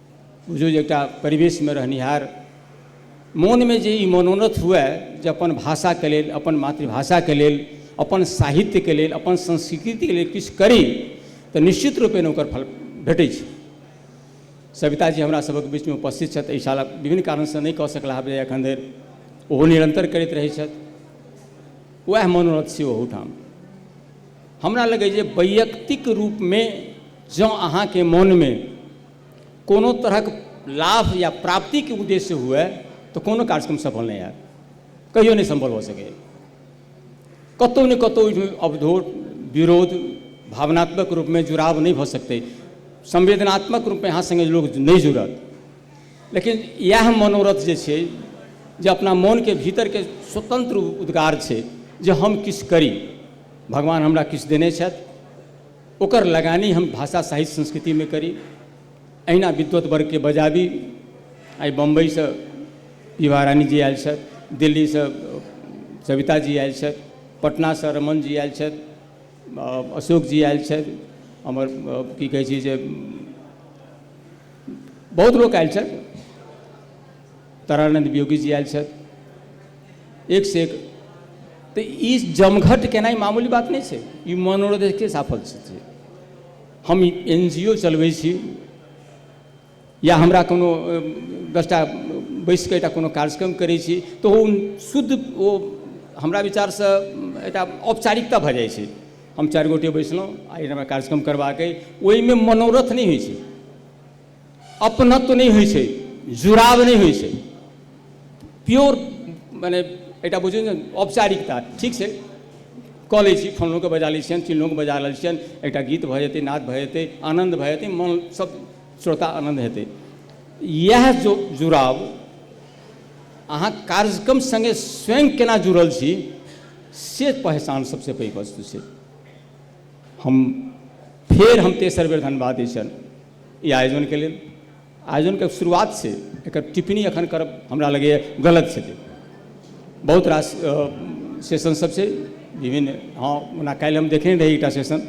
बुझू जे एकटा परिवेशमे रहनिहार मोनमे जे ई मनोनथ हुए जे अपन भाषाके लेल अपन मातृभाषाके लेल अपन साहित्यके लेल अपन संस्कृतिके लेल किछु करी तऽ निश्चित रूपेण ओकर फल भेटै छै सविताजी हमरा सभक बीचमे उपस्थित छथि एहि साल विभिन्न कारणसँ नहि कऽ सकला हँ एखन धरि ओहो निरन्तर करैत रहै छथि वएह मनोरथ छै ओहूठाम हमरा लगैए जे वैयक्तिक रूपमे जँ अहाँके मोनमे कोनो तरहक लाभ या प्राप्तिके उद्देश्य हुए तऽ कोनो कार्यक्रम सफल नहि होयत कहियो नहि सम्भव भऽ सकैया कतौ ने कतौ ओहिमे अवरोध विरोध भावनात्मक रूपमे जुड़ाव नहि भऽ सकतै संवेदनात्मक रूपमे अहाँ सङ्गे लोक नहि जुड़त लेकिन इएह मनोरथ जे छै जे अपना मोनके भीतरके स्वतन्त्र उद्गार छै जे हम किछु करी भगवान हमरा किछु देने छथि ओकर लगानी हम भाषा साहित्य संस्कृति मे करी अहिना विद्वत वर्ग के बजाबी आइ बम्बई सँ विभा रानी जी आयल छथि दिल्ली सँ सविता जी आयल छथि पटना सँ रमण जी आयल छथि अशोक जी आयल छथि हमर की कहै छै जे बहुत लोक आयल छथि तारानंद वियोगी जी आयल छथि एक से एक तऽ ई जमघट केनाइ मामूली बात नहि छै ई मनोरथके साफल छै हम एन जी ओ चलबै छी या हमरा कोनो दसटा बैस कऽ एकटा कोनो कार्यक्रम करै छी तऽ ओ शुद्ध ओ हमरा विचारसँ एकटा औपचारिकता भऽ जाइ छै हम चारि गोटे बैसलहुँ आ एहिठाम कार्यक्रम करबाक अइ ओहिमे मनोरथ नहि होइ छै अपनत्व नहि होइ छै जुड़ाव नहि होइ छै प्योर मने एकटा बुझियौ ने औपचारिकता ठीक छै कऽ लै छी फलनोके बजा लै छियनि चिलनोके बजा लै छियनि एकटा गीत भऽ जेतै नाद भऽ जेतै आनन्द भऽ जेतै मन सब श्रोता आनन्द हेतै इएह जो जुड़ाव अहाँ कार्यक्रम सङ्गे स्वयं केना जुड़ल छी से पहचान सबसँ पैघ वस्तु छै हम फेर हम तेसर बेर धन्यवाद दै छियनि ई आयोजनके लेल आयोजनके शुरुआत छै एकर टिप्पणी एखन करब हमरा लगैए गलत छै बहुत रास सेशन सब छै विभिन्न हँ ओना काल्हि हम देखने रही एकटा सेशन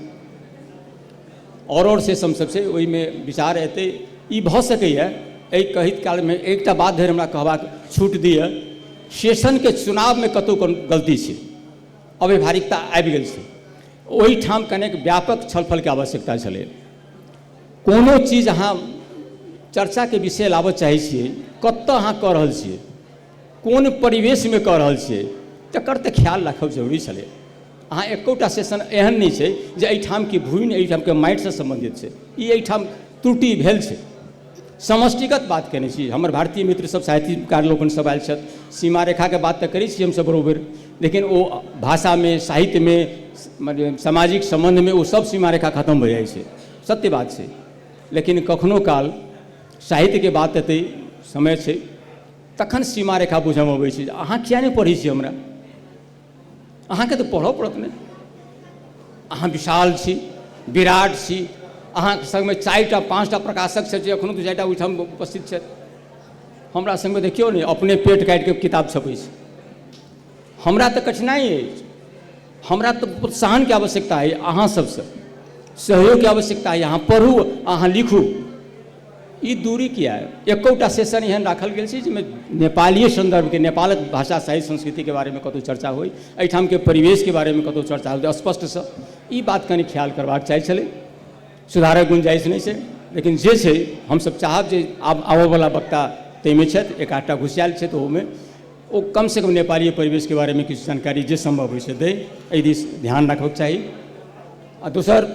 आओर आओर सेशन सब छै ओहिमे विचार एतै ई भऽ सकैए एहि कहैत कालमे एकटा बात धरि हमरा कहबाक छूट दिअ सेशनके चुनावमे कतहु कोनो गलती छै अव्यवहारिकता आबि गेल छै ओहिठाम कनेक व्यापक छलफलके आवश्यकता छलै कोनो चीज अहाँ चर्चाके विषय लाबऽ चाहै छियै कतऽ अहाँ कऽ रहल छियै कोन परिवेशमे कऽ रहल छियै तकर तऽ ख्याल राखब जरूरी छलै अहाँ एकोटा सेशन एहन नहि छै जे एहिठामके घुनि एहिठामके माटिसँ सम्बन्धित छै ई एहिठाम त्रुटि भेल छै समष्टिगत बात कयने छी हमर भारतीय मित्र सब साहित्यकार लोकनि सब आयल छथि सीमा रेखाके बात तऽ करै छी हमसब बरोबरि लेकिन ओ भाषामे साहित्यमे मने सामाजिक सम्बन्धमे ओ सब सीमा रेखा खतम भऽ जाइ छै सत्य बात छै लेकिन कखनो काल साहित्यके बात एतै समय छै तखन सीमा रेखा बुझऽमे अबै छै जे अहाँ किए नहि पढ़ै छी हमरा अहाँके तऽ पढ़ऽ पड़त ने अहाँ विशाल छी विराट छी अहाँके सङ्गमे चारिटा पाँचटा प्रकाशक छथि एखनो दू चारिटा ओहिठाम उपस्थित छथि हमरा सङ्गमे देखियौ ने अपने पेट काटिके किताब छपै छै हमरा तऽ कठिनाइ अछि हमरा तऽ प्रोत्साहनके आवश्यकता अछि अहाँ सभसँ सहयोगके आवश्यकता अछि अहाँ पढ़ू अहाँ लिखू ई दूरी किया एकौटा सेशन एहन राखल गेल छै जाहिमे नेपालीय सन्दर्भके नेपालक भाषा साहित्य संस्कृतिके बारेमे कतहु चर्चा होइ एहिठामके परिवेशके बारेमे कतहु चर्चा होइ स्पष्टसँ ई बात कनि ख्याल करबाक चाही छलै सुधारक गुंजाइश नहि छै लेकिन जे छै हमसभ चाहब जे आब आबयवला वक्ता ताहिमे छथि एक आधटा घुसियाल छथि ओहोमे ओ कमसँ कम नेपाली परिवेशके बारेमे किछु जानकारी जे सम्भव होइ से दै एहि दिस ध्यान राखबाक चाही आ दोसर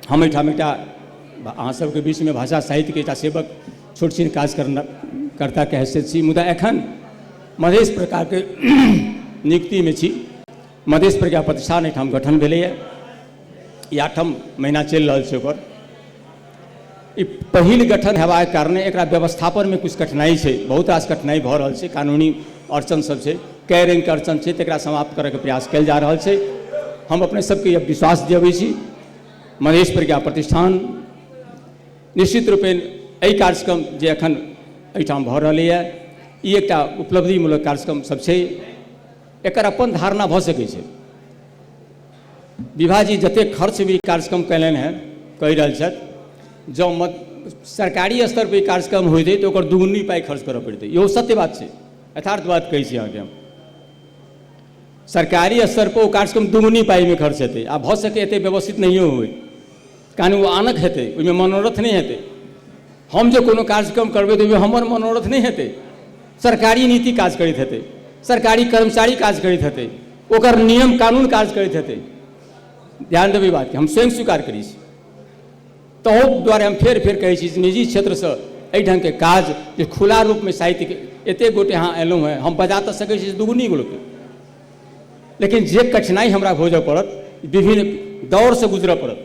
हम एहिठाम एकटा अहाँ सबके बीचमे भाषा साहित्यके एकटा सेवक छोट छिन काज करना कर्ताके हैसियत छी मुदा एखन मधेश प्रकारके नियुक्तिमे छी मधेश प्रज्ञा प्रतिष्ठान एहिठाम गठन भेलैए ई आठम महीना चलि रहल छै ओकर ई पहिल गठन हेबाक कारणे एकरा व्यवस्थापनमे किछु कठिनाइ छै बहुत रास कठिनाइ भऽ रहल छै कानूनी अड़चन सब छै कए रङ्गके अड़चन छै तकरा समाप्त करैके प्रयास कयल जा रहल छै हम अपने सबके यह विश्वास दियबै छी महेश प्रज्ञा प्रतिष्ठान निश्चित रूपे एहि कार्यक्रम जे एखन एहिठाम भऽ रहलैए ई एकटा उपलब्धिमूलक कार्यक्रम सब छै एकर अपन धारणा भऽ सकै छै विभा जी जतेक खर्च भी कार्यक्रम कयलनि हैं कहि रहल छथि जँ मत सरकारी स्तर पर ई कार्यक्रम होइत अछि तऽ ओकर दुगुनी पाइ खर्च करऽ पड़तै इहो सत्य बात छै यथार्थ बात कहै छी अहाँके हम सरकारी स्तर पर ओ कार्यक्रम दुगुनी पाइमे खर्च हेतै आ भऽ सकै एतेक व्यवस्थित नहियो होइ तहन ओ आनक हेतै ओहिमे मनोरथ नहि हेतै हम जे कोनो कार्यक्रम करबै तऽ ओहिमे हमर मनोरथ नहि हेतै सरकारी नीति काज करैत हेतै सरकारी कर्मचारी काज करैत हेतै ओकर नियम कानून काज करैत हेतै ध्यान देबै बातके हम स्वयं स्वीकार करै छी तहू दुआरे हम फेर फेर कहै छी निजी क्षेत्रसँ एहि ढङ्गके काज जे खुला रूपमे साहित्यके एतेक गोटे अहाँ एलहुँ हेँ हम बजा तऽ सकै छी दुगुनी गोटे लेकिन जे कठिनाइ हमरा भोजऽ पड़त विभिन्न दौरसँ गुजरऽ पड़त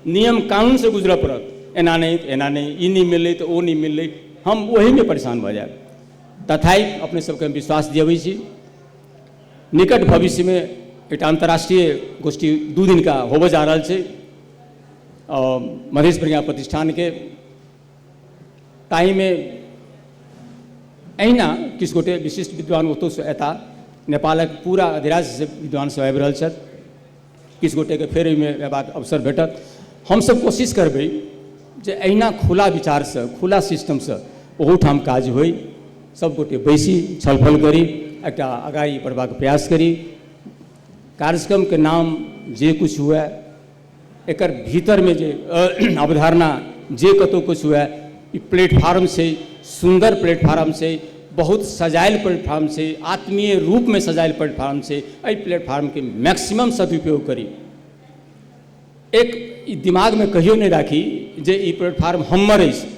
नियम कानूनसँ गुजरऽ पड़त एना नहि तऽ एना नहि ई नहि मिललै तऽ ओ नहि मिललै हम ओहीमे परेशान भऽ जायब तथाइ अपने सभके हम विश्वास दियबै छी निकट भविष्यमे एकटा अन्तर्राष्ट्रीय गोष्ठी दू दिनका होबऽ जा रहल छै मधेश प्रज्ञा प्रतिष्ठानके ताहिमे एहिना किछु गोटे विशिष्ट विद्वान ओतहुसँ अयता नेपालक पूरा अधिराज्यसँ विद्वानसभ आबि रहल छथि किछु गोटेके फेर एहिमे अयबाक अवसर भेटत हमसभ कोशिश करबै जे एहिना खुला विचारसँ खुला सिस्टमसँ ओहूठाम काज होइ सभगोटे बैसी छलफल करी एकटा अगाड़ी बढ़बाक प्रयास करी कार्यक्रमके नाम जे किछु हुए एकर भीतर में जे अवधारणा जे कतौ कुछ हुए ई प्लेटफार्म से सुंदर प्लेटफार्म से बहुत सजायल प्लेटफार्म से आत्मीय रूप में सजायल प्लेटफार्म से एहि प्लेटफार्म के मैक्सिमम सदुपयोग करी एक ई दिमाग में कहियो नहीं राखी जे ई प्लेटफार्म हमर अछि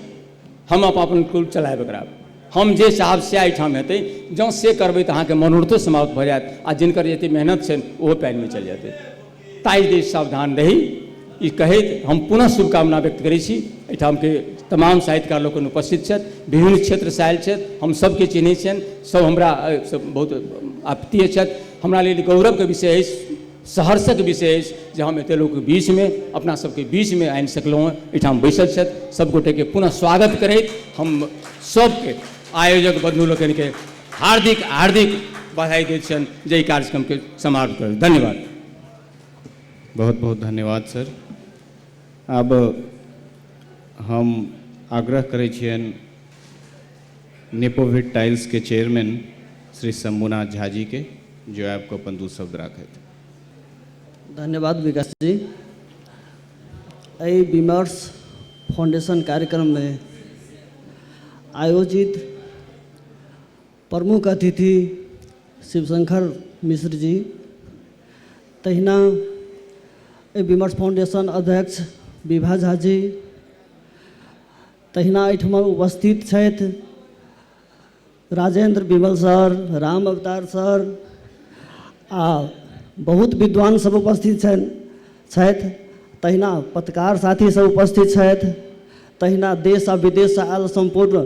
हम अपन अपन कुल चलायब एकरा हम जे चाहब से एहिठाम हेतै जँ से करबै तऽ अहाँके मनोरथो समाप्त भऽ जायत आ जिनकर जतेक मेहनत छनि ओहो पानिमे चलि जेतै ताहि जे सावधान रही ई कहैत हम पुनः शुभकामना व्यक्त करै छी एहिठामके तमाम साहित्यकार लोकनि उपस्थित छथि विभिन्न क्षेत्रसँ आयल छथि हम सभके चिन्है छियनि सभ हमरा बहुत आपत्तीय छथि हमरा लेल गौरवके विषय अछि सहर्षक विषय अछि जे हम एतेक लोकके बीचमे अपना सभके बीचमे आनि सकलहुँ हँ एहिठाम बैसल छथि सभगोटेके पुनः स्वागत करैत हम सभके आयोजक बन्धु लोकनिके हार्दिक हार्दिक बधाई दैत छियनि जे एहि कार्यक्रमके समाप्त कर धन्यवाद बहुत बहुत धन्यवाद सर आब हम आग्रह करै छियनि नेपोविट टाइल्सके चेयरमैन श्री शंभुनाथ झा जीके जो आबि कऽ अपन दू शब्द राखथि धन्यवाद विकास जी एहि विमर्श फाउंडेशन कार्यक्रममे आयोजित प्रमुख अतिथि शिवशंकर मिश्र जी तहिना एहि विमर्श फाउंडेशन अध्यक्ष विभा झा जी तहिना एहिठाम उपस्थित छथि राजेंद्र विमल सर राम अवतार सर आ बहुत विद्वान सब उपस्थित छथि तहिना पत्रकार साथी सब उपस्थित छथि तहिना देश आ विदेश सँ आयल सम्पूर्ण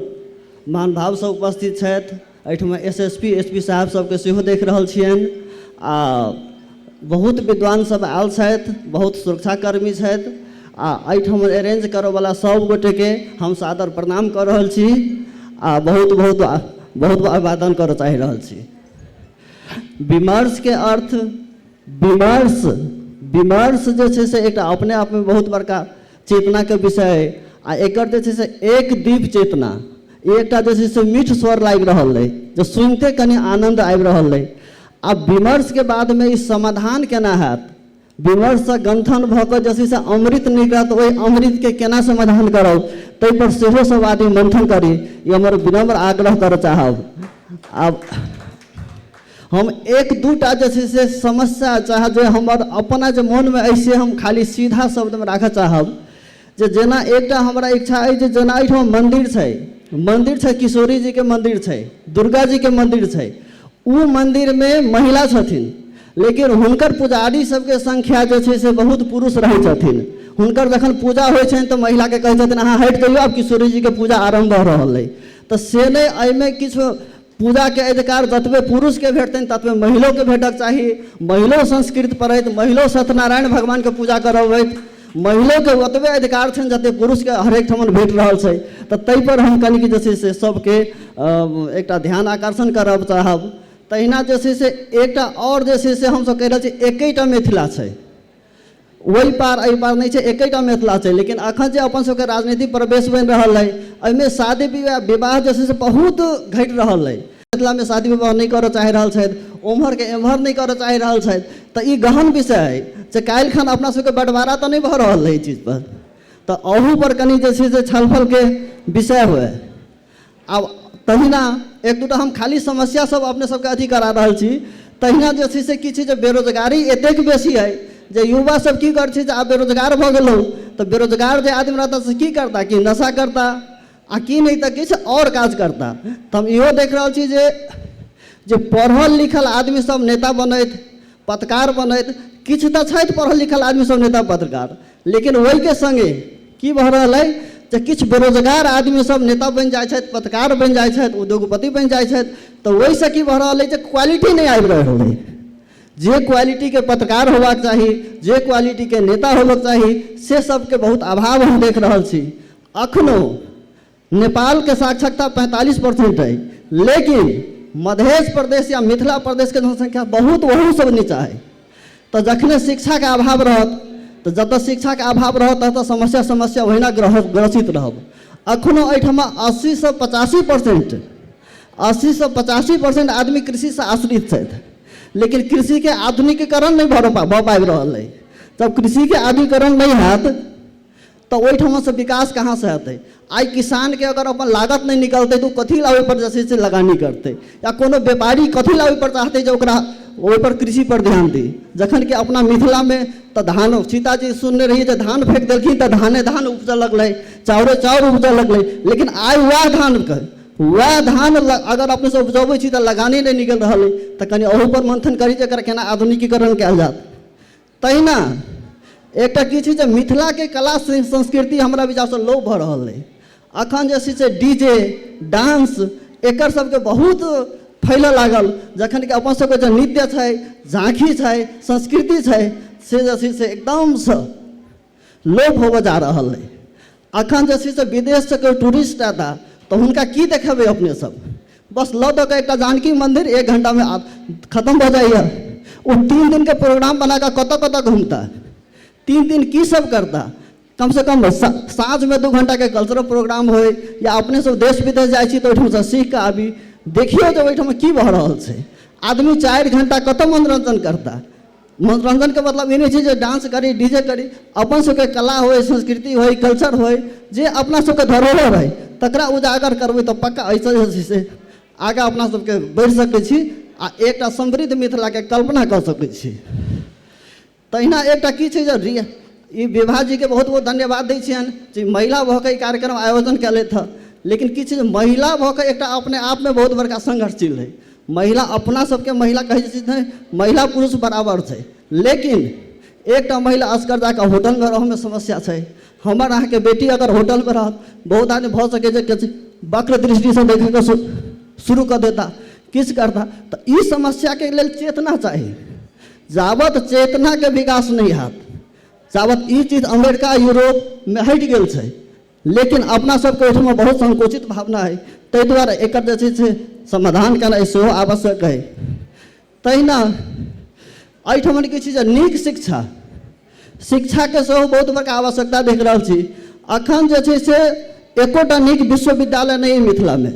महानुभाव सब उपस्थित छथि एहिठाम S S P S P साहब सबके सेहो देख रहल छियनि आ बहुत विद्वान सब आयल छथि बहुत सुरक्षाकर्मी छथि आ एहिठाम अरेंज करऽवला सब गोटेके हम सादर प्रणाम कऽ रहल छी आ बहुत बहुत बहुत अभिवादन करऽ चाहि रहल छी विमर्शके अर्थ विमर्श विमर्श जे छै से एकटा अपने आपमे बहुत बड़का चेतनाके विषय अइ आ एकर जे छै से एक दीप चेतना ई एकटा जे छै से मीठ स्वर लागि रहल अइ जे सुनिते कनि आनन्द आबि रहल अइ आ विमर्शके बादमे ई समाधान केना हैत विमर्शसँ गन्थन भऽ कऽ जे छै से अमृत निकलत ओहि अमृतके केना समाधान करब ताहिपर सेहो सभ आदमी मन्थन करी ई हमर विनम्र आग्रह करय चाहब आब हम एक दू टा जे छै से समस्या चाहे जे हमर अपना जे मोनमे अछि से हम खाली सीधा शब्दमे राखऽ चाहब जे जेना एकटा हमरा इच्छा अछि जे जेना एहिठाम मन्दिर छै मन्दिर छै किशोरी जीके मन्दिर छै दुर्गा जीके मन्दिर छै ओ मन्दिरमे महिला छथिन लेकिन हुनकर पुजारी सबके संख्या जे छै से बहुत पुरुष रहै छथिन हुनकर जखन पूजा होइ छनि तऽ महिलाके कहै छथिन अहाँ हटि जइयौ आब किशोरी जीके पूजा आरम्भ भऽ रहल अइ तऽ से नहि एहिमे किछु पूजा के अधिकार जतबे पुरुष के भेटतनि ततबे महिलो के भेटक चाही महिलो संस्कृत पढ़ैत महिलो सत्यनारायण भगवान के पूजा करबैत महिलो के ओतबे अधिकार छनि जते पुरुष के हरेक ठमन भेट रहल छै तऽ ताहि पर हम कनिक जे छै से सबके एकटा ध्यान आकर्षण करब चाहब तहिना जे छै से एकटा आओर जे छै से हमसब कहि रहल छी एकेटा मिथिला छै ओहि पार एहि पार नहि छै एकैटा मिथिला छै लेकिन अखन जे अपन सबके राजनीति प्रवेश बनि रहल अइ एहिमे शादी विवाह विवाह जे छै से बहुत घटि रहल अइ मिथिलामे शादी विवाह नहि करऽ चाहि रहल छथि ओम्हरके एम्हर नहि करऽ चाहि रहल छथि तऽ ई गहन विषय अइ जे काल्हि खन अपना सबके बँटवारा तऽ नहि भऽ रहल अइ एहि चीज पर तऽ अहू पर कनि जे छै से छलफलके विषय हुए आब तहिना एक दूटा हम खाली समस्या सब अपने सबके अथी करा रहल छी तहिना जे छै से की छै जे बेरोजगारी एतेक बेसी है जे युवा सब की कर छै जे आब बेरोजगार भऽ गेलहुँ तऽ बेरोजगार जे आदमी रहता से की करता कि नशा करता आ की नहि तऽ किछु आओर काज करता तऽ हम इहो देख रहल छी जे जे पढ़ल लिखल आदमी सब नेता बनैत पत्रकार बनैत किछु तऽ छथि पढ़ल लिखल आदमी सब नेता पत्रकार लेकिन ओहिके सङ्गे की भऽ रहल अइ जे किछु बेरोजगार आदमी सब नेता बनि जाइ छथि पत्रकार बनि जाइ छथि उद्योगपति बनि जाइ छथि तऽ ओहिसँ की भऽ रहल अइ जे क्वालिटी नहि आबि रहल अइ जे क्वालिटीके पत्रकार होबाक चाही जे क्वालिटीके नेता होबक चाही से सबके बहुत अभाव हम देख रहल छी अखनो नेपाल के साक्षरता पैंतालीस परसेंट है लेकिन मधेश प्रदेश या मिथिला प्रदेश के जनसंख्या बहुत वहू सब नीचा है तो जखने शिक्षा के अभाव रहत तो जतऽ शिक्षा के अभाव रहत ततऽ समस्या समस्या ओहिना ग्रह ग्रसित रहब अखनो एहिठमा अस्सी से पचासी परसेंट अस्सी से पचासी परसेंट आदमी कृषि से आश्रित छथि लेकिन कृषि के आधुनिकीकरण नहि भऽ रह- भऽ पाबि रहल अइ जब कृषि के आधुनिकीकरण नहि हैत त ओहि ठमा सँ विकास कहाँ सँ हेतै? आइ किसान केँ अगर अपन लागत नहि निकलतै त ओ कथी ला ओहि पर जे छै से लगानी करतै? या कोनो व्यापारी कथी ला ओहि पर चाहतै जे ओकरा ओहि पर कृषि पर ध्यान दी? जखन कि अपना मिथिला मे त धान सीता जी सुनने रहियै जे धान फेंक देलखिन त धाने धान उपजय लगलै, चाउरे चाउर उपजय लगलै। लेकिन आइ वैह धान केँ, वैह धान अगर अपने सब उपजबै छी त लगानी नहि निकलि रहल अछि। त कनी अहू पर मंथन करी जे एकर केना आधुनिकीकरण कयल जायत। तहिना एकटा की छै जे मिथिलाके कला संस्कृति हमरा विचारसँ लोप भऽ रहल अइ अखन जे छै से डी जे डांस एकर सबके बहुत फैलऽ लागल जखन कि अपन सबके जे नृत्य छै झाँकी छै संस्कृति छै से जे छै से एकदमसँ लोप होबऽ जा रहल अइ अखन जे छै से विदेश से कोइ टूरिस्ट एता तऽ हुनका की देखेबै अपने सब बस लऽ दऽ कऽ एकटा जानकी मन्दिर एक घण्टामे आब खतम भऽ जाइए ओ तीन दिनके प्रोग्राम बना कऽ कतऽ कतऽ घुमता तीन दिन की सब करता कम से कम साँझमे दू घण्टाके कल्चरल प्रोग्राम होइ या अपने सब देश विदेश जाइ छी तऽ ओहिठामसँ सीख कऽ आबी देखियौ जे ओहिठाम की भऽ रहल छै आदमी चारि घण्टा कतऽ मनोरञ्जन करता मनोरञ्जनके मतलब ई नहि छै जे डान्स करी डी जे करी अपन सबके कला होइ संस्कृति होइ कल्चर होइ जे अपना सबके धरोहर होइ तकरा उजागर करबै तऽ पक्का एहिसँ जे छै से आगाँ अपना सबके बढ़ि सकै छी आ एकटा समृद्ध मिथिलाके कल्पना कऽ सकै छी तहिना एकटा की छै जे रिय ई विभा जीके बहुत बहुत धन्यवाद दै छियनि जे महिला भऽ कऽ ई कार्यक्रम आयोजन कयलथि हँ लेकिन की छै जे महिला भऽ कऽ एकटा अपने आपमे बहुत बड़का संघर्षशील हइ महिला अपना सबके महिला कहै छै नहि महिला पुरुष बराबर छै लेकिन एकटा महिला असगर जाकऽ होटलमे रहऽमे समस्या छै हमर अहाँके बेटी अगर होटलमे रहत बहुत आदमी भऽ सकै छै किछु वक्र दृष्टिसँ देखैके शुरू कऽ देता किछु करता तऽ ई समस्याके लेल चेतना चाही जाबत चेतनाके विकास नहि हैत जाबत ई चीज अमेरिका यूरोपमे हटि गेल छै लेकिन अपना सबके ओहिठाम बहुत संकुचित भावना है ताहि दुआरे एकर जे छै से समाधान केनाइ सेहो आवश्यक है तहिना एहिठाम की छै जे नीक शिक्षा शिक्षाके सेहो बहुत बड़का आवश्यकता देख रहल छी अखन जे छै से एकोटा नीक विश्वविद्यालय नहि अइ मिथिलामे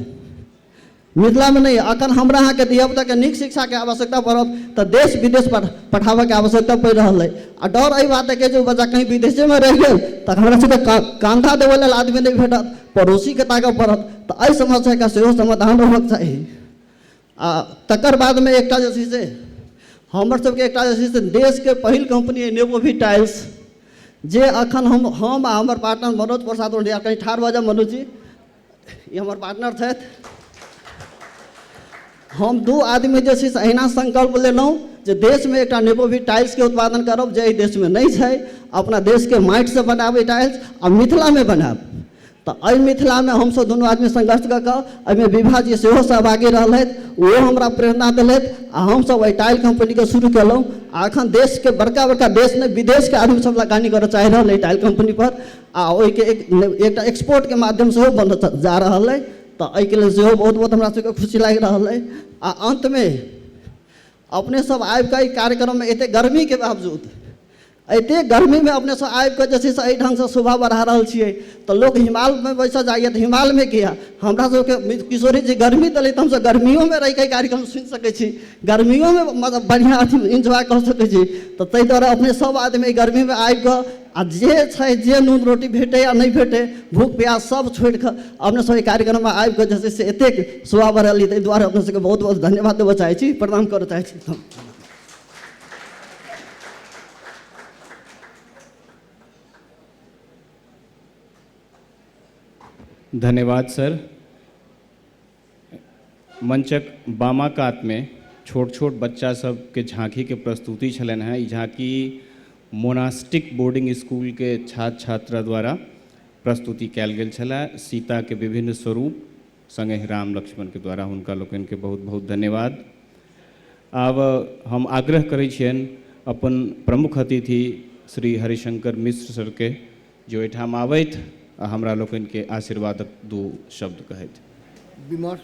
मिथिलामे नहि अखन हमरा अहाँके धियापुताके नीक शिक्षाके आवश्यकता पड़त तऽ देश विदेश पर पठाबऽके आवश्यकता पड़ि रहल अइ आ डर एहि बातके जे ओ बच्चा कहीँ विदेशेमे रहि गेल तऽ हमरा सभके का कान्धा देबऽ लेल आदमी नहि भेटत पड़ोसीके ताकऽ पड़त तऽ एहि समस्याके सेहो समाधान होबऽके चाही आ तकर बादमे एकटा जे छै से हमर सभके एकटा जे छै से देशके पहिल कम्पनी अइ नेबोभी टाइल्स जे अखन हम हम आ हमर पार्टनर मनोज प्रसाद ओढ़िया कहीँ ठाढ़ भऽ जाउ मनोज जी ई हमर पार्टनर छथि हम दू आदमी जे छै से अहिना संकल्प लेलहुँ जे देशमे एकटा नेपोवी टाइल्सके उत्पादन करब जे एहि देशमे नहि छै अपना देशके माटिसँ बनाबै टाइल्स आ मिथिलामे बनायब तऽ एहि मिथिलामे हमसभ दुनू आदमी संघर्ष कऽ कऽ एहिमे विभा जी सेहो सहभागी रहलथि ओहो हमरा प्रेरणा देलथि आ हमसभ एहि टाइल कम्पनीके शुरू केलहुँ आ एखन देशके बड़का बड़का देश नहि विदेशके आदमी सभ लगानी करय चाहि रहल एहि टाइल कम्पनीपर आ ओहिके एक एकटा एक्सपोर्टके माध्यम सेहो बन जा रहल अइ तऽ एहिके लेल सेहो बहुत बहुत हमरा सबके खुशी लागि रहल अइ आ अन्तमे अपने सब आबिकऽ एहि कार्यक्रममे एतेक गर्मीके बावजूद एते गर्मीमे अपने सब आबिकऽ जे छै से एहि ढङ्गसँ शोभा बढ़ा रहल छियै तऽ लोक हिमालमे बैसऽ जाइए तऽ हिमालमे किया हमरा सबके किशोरी जी गर्मी देलै तऽ हमसब गर्मियोमे रहिकऽ कार्यक्रम सुनि सकै छी गर्मियोमे मतलब बढ़िआँ अथी इन्जॉय कऽ सकै छी तऽ ताहि दुआरे अपने सब आदमी एहि गर्मीमे आबिकऽ आ जे छै जे नून रोटी भेटै आ नहि भेटै भूख प्यास सब छोड़ि कऽ अपने सब एहि कार्यक्रममे आबि कऽ जे छै से एतेक शोभा बढ़ेलियै ताहि दुआरे अपने सबके बहुत बहुत धन्यवाद देबऽ चाहै छी प्रणाम करऽ चाहै छी हम धन्यवाद सर मंचक बामा कात मे छोट छोट बच्चा सब के झांकी के प्रस्तुति छलनि हैं। ई झांकी मोनास्टिक बोर्डिंग स्कूल के छात्र छात्रा द्वारा प्रस्तुति कयल गेल छलए। सीता के विभिन्न स्वरूप संगहि राम लक्ष्मण के द्वारा हुनका लोकनि के बहुत बहुत धन्यवाद। आब हम आग्रह करैत छियनि अपन प्रमुख अतिथि श्री हरिशंकर मिश्र सर के जे ओहिठाम आबथि आ हमरा लोकनि केँ आशीर्वादक दू शब्द कहथि। विमर्श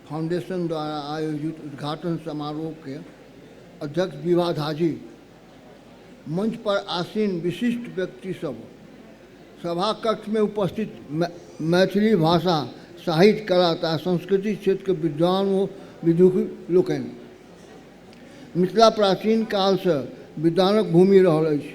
फाउंडेशन द्वारा आयोजित उद्घाटन समारोह केँ अध्यक्ष विभा झाजी, मंच पर आसीन विशिष्ट व्यक्ति सब, सभा कक्ष मे उपस्थित मैथिली भाषा, साहित्य, कला तथा संस्कृति क्षेत्र क विद्वान ओ विदुषी लोकनि। मिथिला प्राचीन काल सँ विद्वानक भूमि रहल अछि।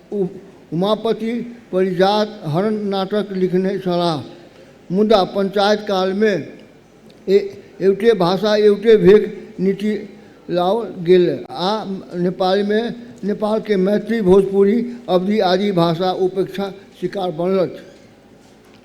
ओ उमापति परिजात हरण नाटक लिखने छलाह मुदा पञ्चायत कालमे एवटे भाषा एवटे भेक नीति लाओल गेल आ नेपालमे नेपालके मैथिली भोजपुरी अवधी आदि भाषा उपेक्षा शिकार बनलथ।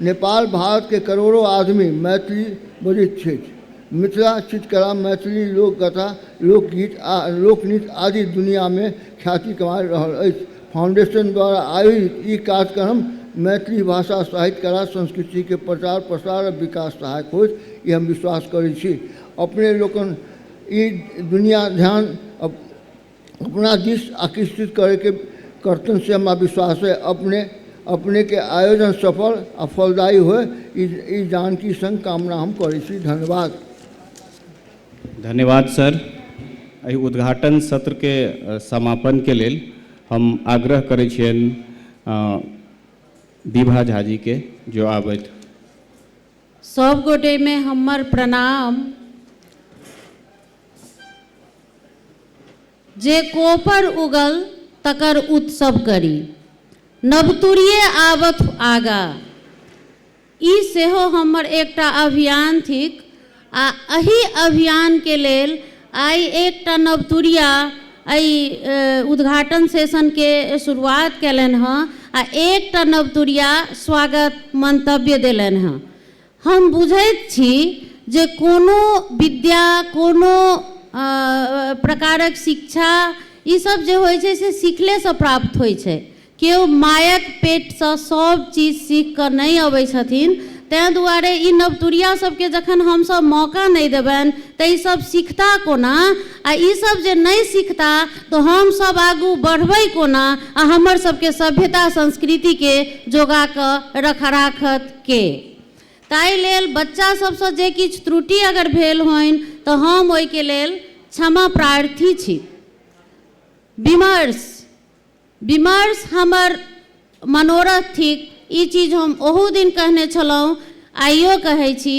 नेपाल भारत के करोड़ो आदमी मैथिली बजैत छैथ। मिथिला चित्रकला, मैथिली लोककथा, लोकगीत आ लोकनृत्य आदि दुनिया में ख्याति कमा रहल अछि। फाउंडेशन द्वारा आयोजित ई कार्यक्रम मैथिली भाषा, साहित्य, कला, संस्कृति के प्रचार, प्रसार आ विकास सहायक होयत ई हम विश्वास करैत छी। अपने लोकनि ई दुनिया ध्यान अपना दिस आकृष्टित करैके करतनि से हमरा विश्वास अइ अपने अपनेके आयोजन सफल आ फलदायी होइ ई ई जानकी सङ्ग कामना हम करै छी धन्यवाद धन्यवाद सर एहि उद्घाटन सत्रके अ, समापनके लेल हम आग्रह करै छियनि अ, विभा झाजीके जो आबथि सब गोटे में हमर प्रणाम जे कोपर उगल तकर उत्सव करी। नवतुरिये आवथु आगा। ई सेहो हमर एकटा अभियान थिक आ अहि अभियान के लेल आइ एकटा नवतुरिया अइ उद्घाटन सेशन के शुरुआत केलनि हँ आ एकटा नवतुरिया स्वागत मंतव्य देलनि हँ। हम बुझैत छी जे कोनो विद्या कोनो प्रकारक शिक्षा ई सब जे होइ छै से सिखले सँ प्राप्त होइ छै केओ मायक पेट सँ सब चीज सीख कऽ नहि अबै छथिन तैं दुआरे ई नवतुरिया सब केँ जखन हम सब मौका नहि देबैन तऽ ई सब सिखता कोना आ ई सब जे नहि सिखता तऽ हम सब आगू बढ़बै कोना आ हमर सब केँ सभ्यता संस्कृति केँ जोगा कऽ रखा राखत के। ताहि लेल बच्चा सभ सँ जे किछु त्रुटि अगर भेल होइन तँ हम ओहि के लेल क्षमा प्रार्थी छी। विमर्श, विमर्श हमर मनोरथ थिक। ई चीज हम ओहू दिन कहने छलहुँ, आइयो कहै छी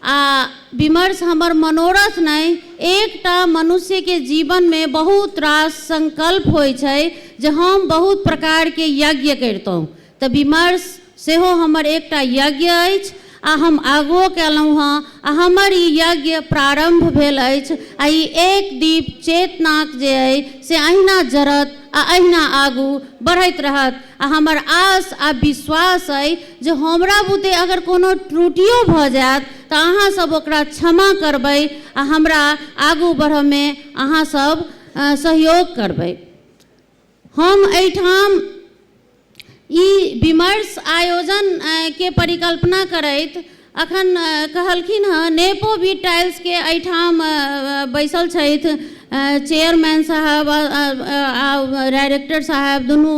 आ विमर्श हमर मनोरथ नहि, एक टा मनुष्य के जीवन मे बहुत रास संकल्प होइ छै जे हम बहुत प्रकार के यज्ञ करितहुँ, तँ विमर्श सेहो हमर एकटा यज्ञ अछि आ हम आगुओ कएलहुँ हँ आ हमर ई यज्ञ प्रारम्भ भेल अछि आ ई एक दीप चेतनाक जे अइ से अहिना जरत आ अहिना आगू बढ़ैत रहत आ हमर आश आ विश्वास अइ जे हमरा बुते अगर कोनो त्रुटियो भऽ जाएत तँ अहाँ सभ ओकरा क्षमा करबै आ हमरा आगू बढ़ऽमे अहाँ सभ सहयोग करबै। हम एहिठाम ई विमर्श आयोजन के परिकल्पना करैत अखन कहलखिन हँ नेपो वी टाइल्स के एहिठाम बैसल छथि चेयरमैन साहब आ डायरेक्टर साहब दुनू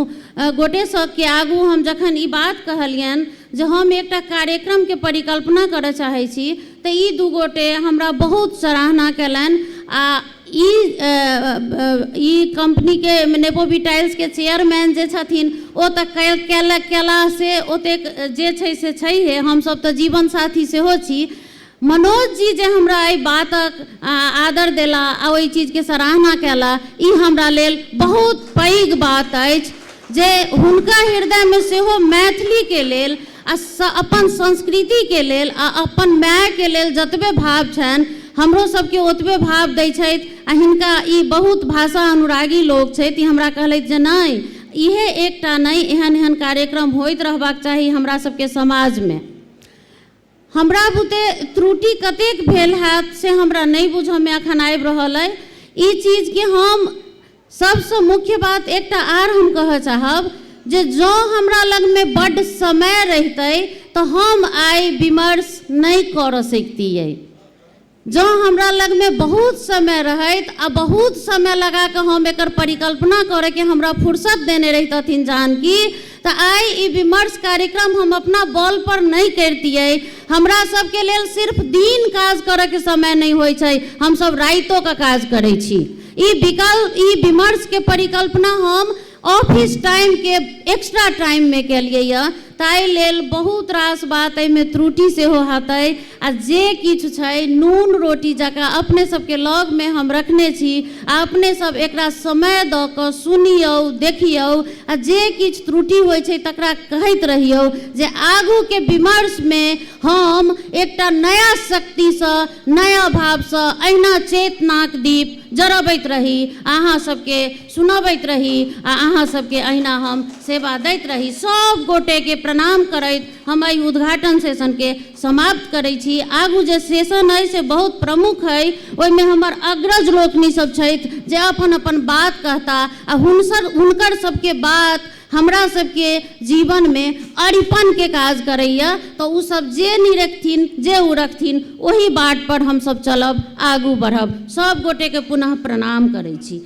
गोटे सबके आगू हम जखन ई बात कहलियनि जे हम एकटा कार्यक्रम के परिकल्पना करऽ चाहै छी तऽ ई दू गोटे हमरा बहुत सराहना केलनि आ ई कम्पनीके नेबोबी टाइल्सके चेयरमैन जे छथिन ओ तऽ कयला से ओतेक जे छै से छैहे हमसभ तऽ जीवन साथी सेहो छी मनोज जी जे हमरा एहि बातक आदर देला आ ओहि चीजके सराहना कयला ई हमरा लेल बहुत पैघ बात अछि जे हुनका हृदयमे सेहो मैथिलीके लेल आ स अपन संस्कृति के लेल आ अपन माय के लेल जतबे भाव छनि हमरो सब के ओतबे भाव दै छथि आ हिनका ई बहुत भाषा अनुरागी लोग छथि ई हमरा कहलथि जे नहि इहे एकटा नहि एहन एहन कार्यक्रम होइत रहबाक चाही हमरा सब के समाज मे हमरा बुते त्रुटि कतेक भेल हैत से हमरा नहि बुझऽ मे अखन आबि रहल अइ ई चीज के हम सबसँ मुख्य बात एकटा आर हम कहऽ चाहब जे जँ हमरा लगमे बड्ड समय रहितै तँ हम आइ विमर्श नै करऽ सैकतिऐ। जँ हमरा लगमे बहुत समय रहैत आ बहुत समय लगा कऽ हम एकर परिकल्पना करैके हमरा फुरसत देने रहितथिन जानकी त आइ ई विमर्श कार्यक्रम हम अपना बल पर नहि करितियै। हमरा सब के लेल सिर्फ दिन काज करय के समय नहि होइत छै, हम सब राइतो क काज करैत छी। ई विकल ई विमर्श के परिकल्पना हम ऑफिस टाइम के एक्स्ट्रा टाइम मे केलियै य। ताहि लेल बहुत रास बात एहि मे त्रुटि सेहो हतै। आ जे किछु छै नून रोटी जकरा अपने सबके लग मे हम रखने छी आ अपने सब एकरा समय दऽ कऽ सुनियौ देखियौ आ जे किछु त्रुटि होइ छै तकरा कहैत रहियौ जे आगू के विमर्श मे हम एकटा नया शक्ति सँ नया भाव सँ अहिना चेतनाक दीप जरबैत रही आ अहाँ सबके सुनबैत रही आ अहाँ सबके अहिना हम सेवा दैत रही सब गोटे के प्रणाम करैत हम एहि उद्घाटन सेशन के समाप्त करै छी। आगू जे सेशन अइ से बहुत प्रमुख अइ। ओहिमे हमर अग्रज लोकनि सभ छथि जे अपन अपन बात कहता आ हुनसर हुनकर सभके बात हमरा सभके जीवनमे अरिपनके काज करैए। तँ ओ सभ जे निरेखथिन, जे उरखथिन ओही बाटपर हम सभ चलब, आगू बढ़ब। सभ गोटेकेँ पुनः प्रणाम करै छी।